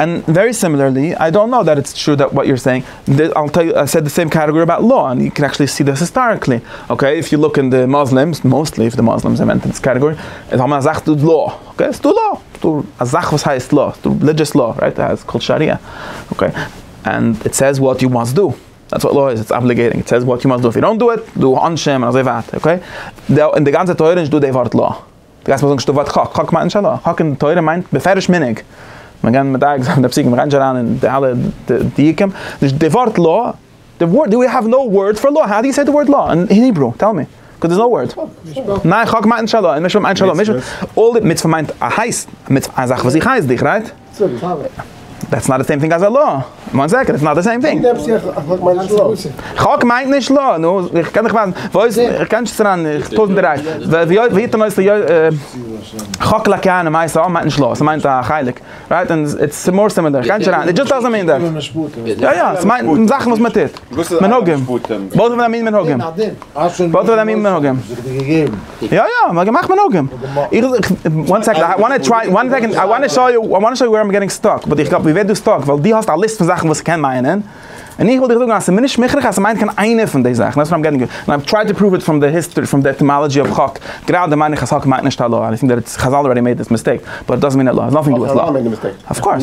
און ווערי סימילערלי, איי דאנט קנאו דעט איטס טרו דעט וואט יור סעינג, איי סעד די סעים קעטעגארי אבאוט לאו, און יו קען עקטשעלי סי דעס היסטאריקלי, אקעי, איף יו לוק אין די מוסלימס, מאוסטלי איף די מוסלימס זענען אונטער דאס קעטעגארי, איז האבן אזאך דא איז לאו, אקעי, ס'איז דא לאו, ס'איז דא אזאך וואס הייסט לאו, ס'איז דא רעלידזשעס לאו, רייט, ס'איז קאלד שאריא, אקעי, און איט סעיז וואט יו מאסט דא, דעטס וואט לאו איז, איטס אבליגעיטינג, איט סעיז וואט יו מאסט דא, איף יו דאנט דא איט, דא עונשים און אזוי ווייטער, אקעי, און די גאנצע תורה איז נישט דא די ווארט לאו. דו גייסט מיר זאגן שטאט ווארט חק, חק מיינט נישט הלכה, חק אין תורה מיינט בפירוש מנהג, מען גייט מדייק זיין די פסוקים, מען גייט נישט אריין אין די אלע דיוקים, נישט די ווארט לא, די ווארט, דא ווי האוו נאו ווארד פאר לא, האו דו יו סעי די ווארד לא אין היברו, טעל מי, קאוז דערס נאו ווארד, ניין חק מיינט נישט הלכה, און מצוה מיינט נישט הלכה, מצוה מיינט א הייסט, א מצוה, א זאך וואס איך הייס דיך, רייט? דעטס נאט די סעים טינג עז א לא. וואן סעקענד, דעטס נאט די סעים טינג. חק מיינט נישט לא. נו, איך קען דיך ווייזן. וואו איז, איך קען נישט סרן, איך טויזנט און דרײַ. ווער היט און עושה יויש. חק לא קיינה מאיס א מיינט נישט לא. ס'מיינט א חלק. רייט? און איטס מאר סימילער. איך גיי נישט אריין. איט דזשאסט דאזענט מין דעט. יא יא, ס'מיינט זאכן וואס מ'טוט. מנהגים. באות אוו א מין מנהגים. באות אוו א מין מנהגים. יא יא, מ'האט געמאכט מנהגים. איך, וואן סעקענד, איי וואנט טו טריי, וואן סעקענד, איי וואנט טו שאו יו, איי וואנט טו שאו יו ווער איים געטינג סטאק, באט איך גלייב מיר ווערט דא סטאק ווייל דו האסט א ליסט פון זאכן וואס ס'קען מיינען, און איך וויל דיר זאגן אז ס'איז מיר נישט מוכרח אז ס'מיינט קיין איינע פון די זאכן, דעטס וואט איים געטינג, און איי טריי טו פראוו איט פראם די היסטארי, פראם די עטימאלעדזשי אוו חק, גראדע מיין איך אז חק מיינט נישט א לאו, איי טינק דעט איטס, חזל אלרעדי מעיד דיס מיסטעיק, באט איט דאזענט מין עט אלאו, איטס נאטינג טו דו וויט לאו. אויף קאורס.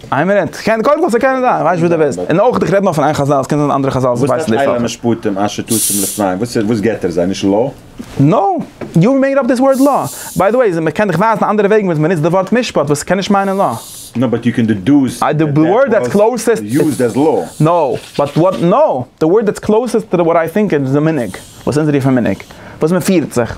איין מינוט, קען, קודם כל ס'קען זיין, איך ווייס נישט וואס דו ווילסט, און אויך איך רעד נאר פון איין חזל, ס'קען זיין אנדערע חזל וואס ווייסן דאס אויך. וואס מיינט אילו משפטים אשר תשים לפניהם, וואס איז, וואס געט ער זיי, נישט לא? נא, יו מעיד אפ דיס ווארד לא. ביי די וועי, מ'קען דיך ווייזן אנדערע וועגן וואס מ'ניצט די ווארט משפט וואס ס'קען נישט מיינען לא. נא באט יו קען דעדוז דעט דעט ווארט וואס יוזד עז לא. נא, באט וואט נא, די ווארט דעטס קלאוסעסט טו וואט איי טינק איז די מנהג, וואס אונז רופן מנהג, וואס מ'פירט זיך.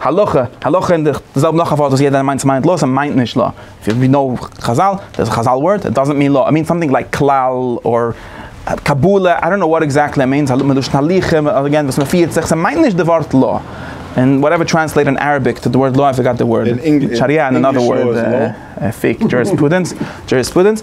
הלכה, הלכה אין די זעלבע נאך א ווארט וואס יעדער מיינט מיינט לא, ס'מיינט מיינט נישט לא, ווי ווי נאו חזל, דאס איז חזל ווארט, איט דאזענט מין לא, איט מינס סאמטינג לייק כלל אור קבלה, איי דאנט נאו וואט עקזעקטלי איט מינס, מלשון הליכה אגעין וואס מ'פירט זיך, ס'מיינט נישט די ווארט לא, און וואטעווער טרענסלעיט אין אראביק טו די ווארד לא איי פארגאט די ווארד, שריה אין אנאדער ווארד, פיק, דזשוריספרודענס, דזשוריספרודענס.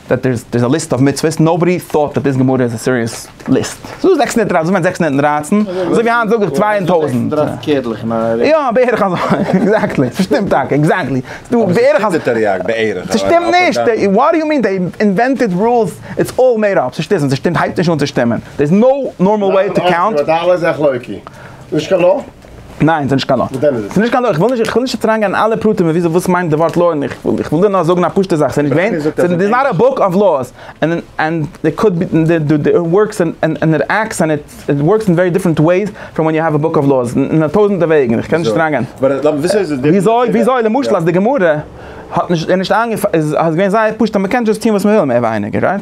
דעט דער איז א ליסט אוו מצוות, נאובאדי טאוט דעט דיס גמרא איז א סיריעס ליסט, ס'איז דא זעקס הונדערט דרײַצן, ס'ווערט זעקס הונדערט און דרײַצן, אזוי ווי היינט זאג איך צוויי און טויזנט, יא בערך אזוי, עקזעקטלי, ס'שטימט טאקע, עקזעקטלי, ס'דא בערך אזוי, ס'שטימט נישט, וואט דו יו מין, דעי אינווענטעד רולס, איטס אלל מעיד אפ, ס'שטיסן, ס'שטימט הייבט נישט אן צו שטימען, דער איז נאו נארמאל וועי טו קאונט. ניין, ס'נישט קיין לא. ס'נישט קיין לא, איך וויל נישט, איך וויל נישט אריינגיין אין אלע פרטים וויאזוי וואס מיינט די ווארט לא און איך וויל, איך וויל דיר נאר זאגן א פשוטע זאך, ס'נישט געווען, ס'איז נאט א בוק אוו לאס, ענד ענד דער קוד ווארקס ענד ענד איט עקטס ענד איט ווארקס אין ווערי דיפרענט וועיס פראם ווען יו העוו א בוק אוו לאס, אין א טויזענטע וועגן, איך קען נישט אריינגיין. וויאזוי, וויאזוי למשל אז די גמרא האט נישט, איז נישט איינגעפאלן, איז געווען זייער פשוט אז מ'קען דזשאסט טון וואס מ'וויל מער ווייניגער, רייט?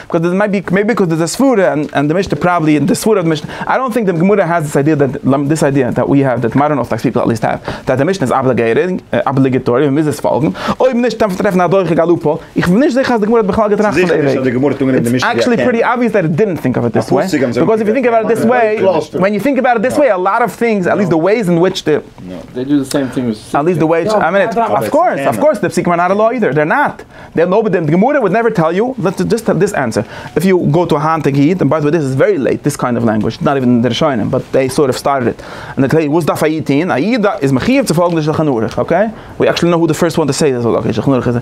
קאוז דער מעיבי מעיבי ביקאוז דער דער סברא און די משנה פראבעבלי און די סברא און די משנה איי דאנט טינק די גמרא האס דיס איידיע דעט למ דיס איידיע דעט ווי האב דעט מאדערן ארטאדאקס פיפל עטליסט האב דעט די משנה איז אבליגעיטינג אבליגעטארי מען מוז עס פאלגן אויב נישט דארף מען טרעפן א דורך א לופ האול איך בין נישט זיכער אז די גמרא האט בכלל געטראכט פון די וועג איטס עקשעלי פריטי אבוויעס דעט איט דידנט טינק אוו איט דיס וועי ביקאוז איף יו טינק אבאוט איט דיס וועי ווען יו טינק אבאוט איט דיס וועי א לאט אוו טינגס עטליסט די וועיס אין וויטש די עטליסט די וועיס א מינוט אויף קאורס אויף קאורס די פסוקים אר נאט איידער דער נאט. דער נאר די גמרא וואלט נעווער טעל יו דזשאסט דיס ענסער איף יו גאו טו א היינטיגע איד און ביי די וועי דיס איז ווערי לעיט דיס קיינד אוו לענגוויטש איז נאט איווען אין די ראשונים באט דעי סארט אוו סטארטעד איט און עקלעירט וואס דארף א איד טוהן א איד איז מחיוב צו פאלגן די שלחן ערוך אקעי ווי עקשעלי נאו הו די פירסט וואן טו סעי דעט אבער אקעי שלחן ערוך איז א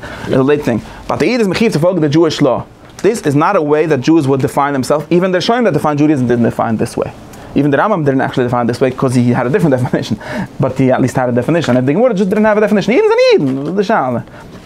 לעיט טינג באט א איד איז מחיוב צו פאלגן די דזשואיש לאו דיס איז נאט א וועי דעט דזשואס וואלט דיפיינד דעמסעלפס איווען די ראשונים דעט דיפיינד דזשואדיזעם דידנט דיפיינד דיס וועי איווען די רמב ם דידנט עקשעלי דיפיינד דיס וועי קאוז הי העד א דיפרענט דעפענישען באט הי עטליסט העד א דעפענישען און איף די גמרא דזשאסט דידנט העוו א דעפענישען אידן זענען אידן וואס איז די שאלה.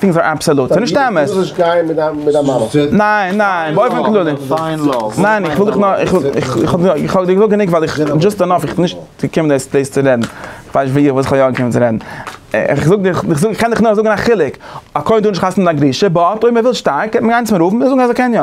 טינגס אר אבסעלוט, ס'איז נישט אמת. דו זאלסט גיין מיט דיין מיט דיין מאמע. ניין ניין, באופן כללי. פיין לאוו. ניין איך וויל דיך נאר, איך וויל, איך האב דיר געזאגט גענוג ווייל איך, דזשאסט ענאף, איך בין נישט געקומען דאס דאס צו רעדן. איך ווייס נישט וואס איך בין יא געקומען צו רעדן. איך זאג דיר, איך זאג, איך קען דיך נאר זאגן א חילוק. א כהן טאר נישט חתונה מיט א גרושה, באט אויב ער וויל שטארק קען מען גיין צום רב און זאגן אז ער קען יא.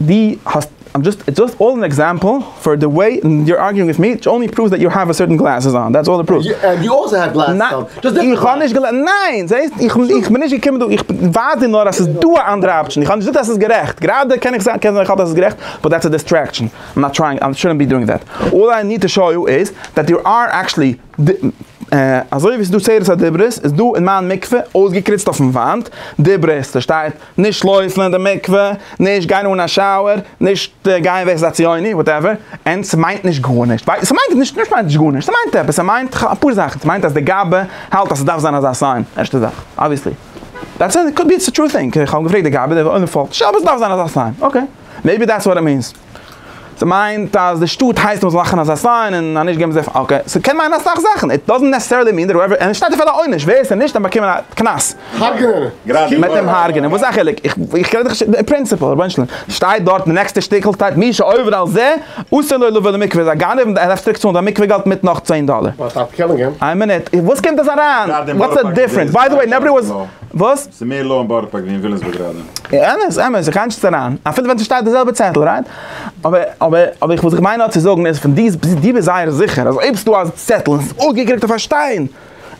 די האסט, איים דזשאסט, איטס דזשאסט אן עקזעמפל פאר די וועי יור ארגיאינג וויט מי, איטס אנלי פראווס דעט יו העוו סערטען גלעסעס אן, דעטס אלל איט פראווס. ענד יו אלסא העוו גלעסעס אן, דזשאסט דיפערענט גלעסעס. איך האב נישט געלע, ניין! זעהסט? איך איך בין נישט געקומען דא, איך ווייז דיר נאר אז ס'איז דא א אנדערע אפשען, איך האב נישט געזאגט אז ס'איז גערעכט, גראדע קען איך זיין, קען זיין איך האלט אז ס'איז גערעכט, באט דעטס א דיסטרעקשען, איים נאט טרייענג, איים שודנט בי דואינג דעט. אלל איי ניד טו שאו יו איז, דעט דעיר אר עקשעלי, אזוי ווי ס'איז דא צורת הדיברות, איז דא אין מיין מקווה, אויסגעקריצט אויפן וואנט, דיברות, ס'שטייט, נישט לויפן אין די מקווה, נישט גיין אן א שאוער, נישט גיין ווער ס'איז א ציוני, וואטעווער, ענד ס'מיינט נישט גארנישט, ס'מיינט נישט נישט מיינט נישט גארנישט, ס'מיינט עפעס, ס'מיינט אפאר זאכן, ס'מיינט אז די גאבע האלט אז ס'דארף זיין אזא סיין, ערשטע זאך, אבוויעסלי, דעטס איט, קאוד בי איטס א טרו טינג, כ'האב געפרעגט די גאבע, די וואלן האט געפאלגט, שוין, אבער ס'דארף זיין אזא סיין, אקעי, מעיבי דעטס וואט איט מינס. ס'מיינט אז די שטאט הייסט מ'זאל מאכן אזא סיין און אז נישט געבן זיי, אקעי, ס'קען מיינען אסאך זאכן, איט דאזענט נעסעסערלי מין דעט הועווער, און עס שטייט אפילו א עונש, ווער ס'נישט דאן באקומען א קנס. הרג'נען אים. מיט אים הרג'נען, וואס איז א חילוק? איך רעד נישט די פרינציפעל, רבונו של עולם. ס'שטייט דארט די נעקסטע שטיקל שטייט מי שעובר על זה אסור לו לבוא למקווה, איז א גנב און ער דארף צוריק צאלן זיין מקווה געלט מיט נאך צען דאלער. איין מינוט, וואס קומט דאס אריין? וואטס די דיפרענס? ביי די וועי נאבאדי וואס, וואס? ס'איז מער לאו און בארא פארק ווי אין ווילימסבורג גראדע. אמת אמת איך הייטשט אריין אפילו ווען ס'שטייט די זעלבע צעטל רייט אבער אבער אבער איך וואס איך מיין נאר צו זאגן איז פון די די ביסט זייער זיכער אז אויב ס'דא א צעטל און ס'איז אויפגעקריגט אויף א שטיין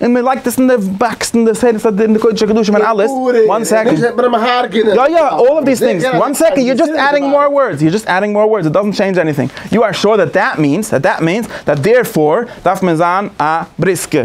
און מ'לייגט עס אין די באקס אין די סדר סדר אין די קודש הקדשים און אלעס וואן סעקאנד יא יא אלל אוו דיס טינגס וואן סעקאנד יו דזשאסט עדדינג מאר ווארדס יו דזשאסט עדדינג מאר ווארדס איט דאזענט טשעינדזש עניטינג יו אר שור דעט דעט מינס דעט דעט מינס דעט דערפאר דארף מען זיין א בריסקער.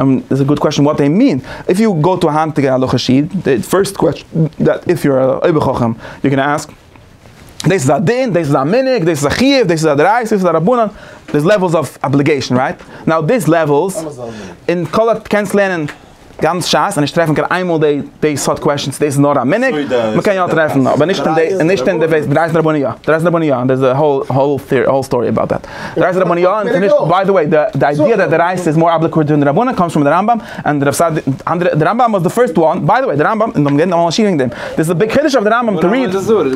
און איז א גוד קוועשאן וואט דעי מין? איף יו גאו טו א היינטיגע הלכה'שע איד, די פירסט קוועשאן דעט איף יו אר א אויבער חכם יו קען אסק, דאס איז א דין, דאס איז א מנהג, דאס איז א חיוב, דאס איז א דערייסע, דאס איז א רבנן, דער'ס לעוועלס אוו אבליגעישאן רייט? נאו דיס לעוועלס, און כל א קענסט לערנען גאנץ ש ס און נישט טרעפן קיין איינמאל דעי דעי סארט קוועשאנס דאס איז נאר א מנהג, מ'קען יא טרעפן אבער נישט אין דעי, נישט אין דעי וועי, דערייסע רבנן יא, דערייסע רבנן יא, דער'ס א האול סטארי אבאוט דעט. די רייסער רבני יא און ס'נישט, ביי די וועי, די איידיע דעט די רייסער איז מאר אפליקארט דען די רבני קאמס פון די רמב ם און די סאדי, אנדערע, די רמב ם וואס די פירסט וואן, ביי די וועי, די רמב ם, און האבן גערעדט אמאל א שיעור וועגן דעם, דאס איז א ביג חידוש אויף די רמב ם טו ריעד,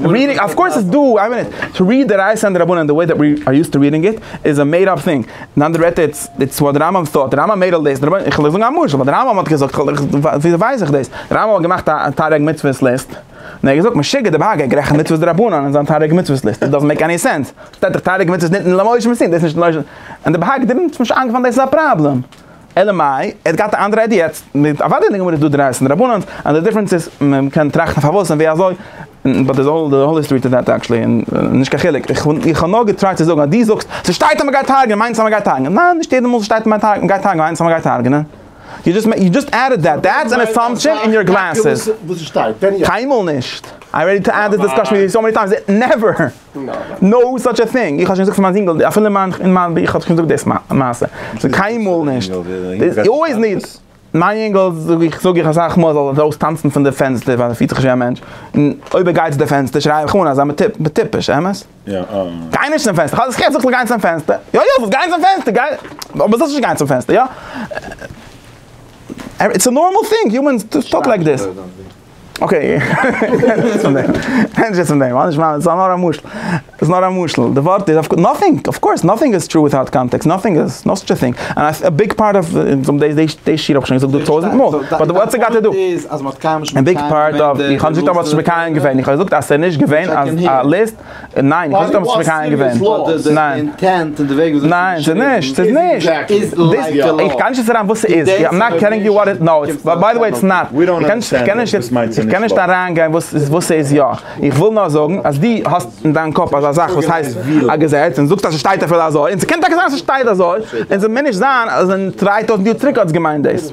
ריעדינג, אוו קאורס איז דא, איין מינוט, טו ריעד די רייסער און די רבני און די וועי דעט ווי אר יוזט טו ריעדינג איט, איז א מעיד אפ טינג, אין אנדערע ווערטער איטס, איטס וואט די רמב ם טאט, די רמב ם מעיד אלל דעיס, די רבני, כ'וועל זאגן א משל, ווייל די רמב ם האט געזאגט, וויאזוי ווייס איך דאס, די רמב ם האט געמאכט א תריג מצוות ליסט, און ער האט געזאגט משוגע די באגע גערעכנט מצוות דרבנן אין זיין תריג מצוות ליסט, איט דאזענט מעיק עני סענס. שטייט דאך תריג מצות ניתן למאור איש מסין, דאס איז נישט די נושא, און די בהק ד האט נישט איינגעפאלן דאס איז א פראבלעם, אלא מאי, ער האט געהאט א אנדערע איידיע יעצט, אוודאי אין די גמרא איז דא דרייסט און דרבנן'ס, און די דיפרענס איז מען קען טראכטן פארוואס און ווי אזוי, באט די האול היסטארי טו דעט עקטשעלי איז נישט קיין חילוק, איך האב נאר געטרייט צו זאגן אז דו זאגסט ס'שטייט אז מ'גייט הרג'נען מיינט עס אז מ'גייט הרג'נען, ניין נישט יעדע מאל ס'שטייט מ'גייט הרג'נען מיינט עס אז מ'גייט הרג'נען, יו דזשאסט עדעד דעט, דעטס ען עסאמפשען אין יור גלעסעס. קיינמאל נישט, איי רעדי טו עד דיס דיסקאשען וויט יו סאו מעני טיימס, נעווער! נאו סאטש א טינג, איך האב שוין געזאגט פאר מיין זינגעל, אפילו אין מיין ביך האב איך שוין געזאגט דאס מעשה, ס'איז קיינמאל נישט, איז אלוועיס נישט, מיין יונגעל זאג איך זאג איך אסאך מאל זאל ער ארויס טאנצן פון די פענסטער ווייל ער פילט זיך נישט ווי א מענטש, און אויב ער גייט צו די פענסטער שריי איך אן אז זיי מיר טיפש, אמת? גיי נישט צום פענסטער, כאטש איך זאג זאלסט גיין צום פענסטער, יא יא זאלסט גיין צום פענסטער, גיי, אבער זאלסט נישט גיין צום פענסטער, יא? איטס א נארמאל טינג, יומענס טאלק לייק דעס. אקעי, ענדערש פון דעם, ענדערש פון דעם, אנדערש מאכן, ס'איז נאר א משל, ס'איז נאר א משל, די ווארט איז, נאטינג, אף קאורס, נאטינג איז טרו וויטאוט קאנטעקסט, נאטינג איז, נאו סטשע טינג, און א ביג פארט אוו, די שיר האב איך שוין געזאגט דא טויזענט מאל, באט וואטס איט גאט טו דו, א ביג פארט אוו, איך האב נישט געזאגט אז מ'האט שוין מקיים געווען, איך האב געזאגט אז ס'איז נישט געווען א ליסט. ניין, איך האב נישט דעמאלטס מקיים געווען. ניין. ניין, ס'איז נישט, ס'איז נישט. איך גיי נישט יעצט אריין וואס ס'איז. איים נאט טעלינג יו וואט איט נאו. ביי די וועי איטס נאט. איך קען נישט אריינגיין וואס ס'איז יא. איך וויל נאר זאגן אז דו האסט אין דיין קאפ אזא זאך וואס הייסט א געזעץ, און זאגסט אז ס'שטייט אפילו אזוי, און ס'קען טאקע זיין אז ס'שטייט אזוי, און ס'מוז נישט זיין אז אין דריי טויזנט יאר צוריק האט עס געמיינט דאס.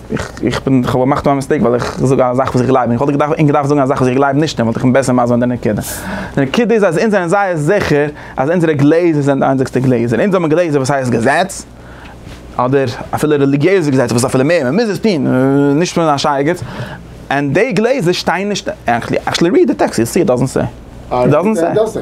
איך בין, איך האב געמאכט א מיסטעיק ווייל איך זאג א זאך וואס איך גלייב אין, איך וואלט געדארפט זאגן א זאך וואס איך גלייב נישט אין, וואלט איך אים בעסער מסביר די נקודה. די נקודה איז אז אונז זענען זייער זיכער אז אונזערע גלעזער זענען די איינציגסטע גלעזער. אונז האבן גלעזער וואס הייסט געזעץ, אדער אפילו רעליגיעזע געזעץ וואס איז אפילו מער, מען מוז עס טון, נישט פון א שייגעץ. און די גלעזער שטייען נישט, עקשעלי ריעד די טעקסט יו וויל סי איט דאזענט סעי, איט דאזענט סעי.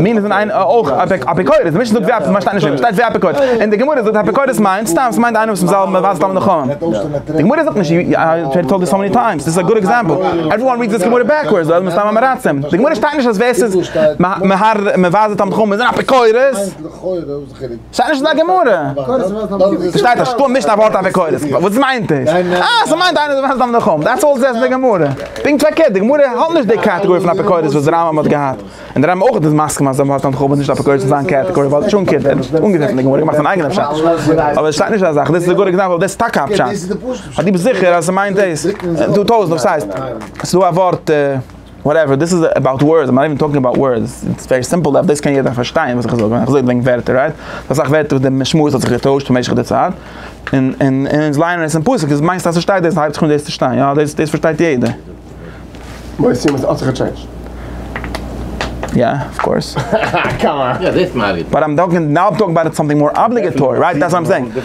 מין איז אין איין אויך אפיקורס, די משנה זאגט זיי מ'שטייט נישט מ'שטייט זיי אפיקורס, און די גמרא זאגט אפיקורס מיינט סתם ס'מיינט איינער וואס מ'זאל מ'ווייזט תלמידי חכמים, די גמרא זאגט נישט י א וויל טעל דיס האו מעני טיימס, דיס איז א גוד עקזעמפל, עווערי וואן ריעדס דיס גמרא בעקווארדס, זיי זענען סתם אמעראצים, די גמרא שטייט נישט אז ווער ס'איז מ'ווייזט די תלמידי חכמים איז אן אפיקורס. שטייט נישט אין א גמרא. שטייט נישט, קום נישט א ווארט אויף עקורת. וואס מיינט עס? אה, ס'מיינט איינער וואס ווייסט דף נחום. דעטס אלל ס'זעהט אין די גמרא. פונקט פארקערט, די גמרא האט נישט די קעטעגארי פון אפיקורס וואס די רמב ם האט געהאט. און די רמב ם אויך איז מסכים אז דף נחום איז נישט אפיקורס אין זיין קעטעגארי ווייל שום קינד ער האט אנגעזעצט אין די גמרא געמאכט זיין אייגענע פשט. אבער עס שטייט נישט אזא זאך. דאס איז א גוט עקזעמפל ווייל דאס איז טאקע א פשט. ווייל דו ביסט זיכער אז ס'מיינט דאס. טויזענט וואס ס'הייסט. ס'איז דא א ווארט. וואטעווער, דאס איז אבאוט ווארדס, איים נאט איווען טאלקינג אבאוט ווארדס, איטס ווערי סימפל דעף, דאס קען יעדער פארשטיין וואס איך זאג, ווען איך זאג וועגן ווערטער, רייט? ס'דא אסאך ווערטער וואס די משמעות האט זיך געטוישט במשך די צייט, און און און אונז לייענען עס אין פסוק, איז מיינסטו אז ס'שטייט דאס, הייבט זיך אן דאס צו שטיין, יא, דאס דאס פארשטייט יעדער. יא, אויף קאורס.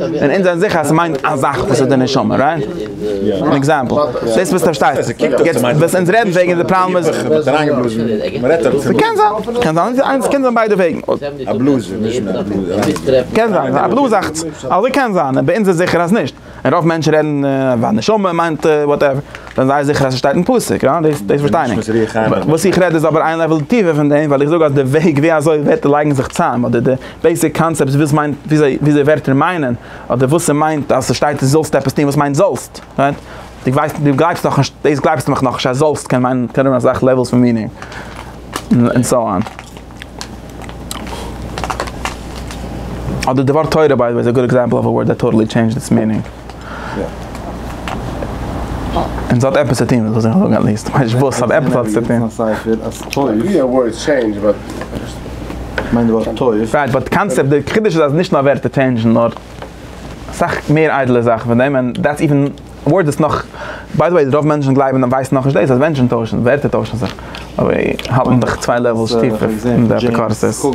און אונז זענען זיכער אז ס'מיינט א זאך וואס איז די נשמה, רייט? אן עקזעמפל, דאס וואס פארשטייסט, יעצט וואס אונז רעדן וועגן די פראבלעם איז, ס'קען זיין, קען זיין, איינס, קען זיין ביידע וועגן, קען זיין, א בלאז אכטס, אזוי קען זיין, אבער אונז איז זיכער אז נישט, און רוב מענטשן רעדן ווען נשמה מיינט וואטעווער, זענען זיי זיכער אז ס'שטייט אין פסוק, רייט? דאס, דאס פארשטיי איך, וואס איך רעד איז אבער איין לעוול טיפער פון דעם, ווייל איך זאג אז די וועג ווי אזוי ווערטער לייגן זיך צוזאם, אדער די. בעיסיק קאנצעפטס וואס מיינט וויאזוי ווערטער מיינען אדער וואס ס'מיינט אז ס'שטייט דא זאלסט עפעס טון וואס מיינט זאלסט רייט דו ווייסט דו גלייבסט נאכנישט דאס גלייבסטו מיך נאכנישט אז זאלסט קען מיינען קען האבן אסאך לעוועלס פון מיענינג און סאו אן. אדער די ווארט תורה ביי די וועי איז א גוד עקזעמפל אוו א ווארד דעט טאטעלי טשעינדזשד איטס מיענינג. און ס'האט עפעס צו טוהן מיט וואס איך זאג עטליעסט כ'ווייס נישט וואס אבער עפעס האט עס צו טוהן. רייט באט קאנצעפט די חידוש איז אז נישט נאר ווערטער טשעינדזשן נאר אסאך מער איידעלע זאכן פון דעם און דעטס איווען ווארדס איז נאך ביי די וועי רוב מענטשן גלייבן און ווייסן נאכנישט דאס אז מענטשן טוישן ווערטער טוישן זיך אבער האלטן זיך צוויי לעוועלס טיפער אין די אפיקורסות.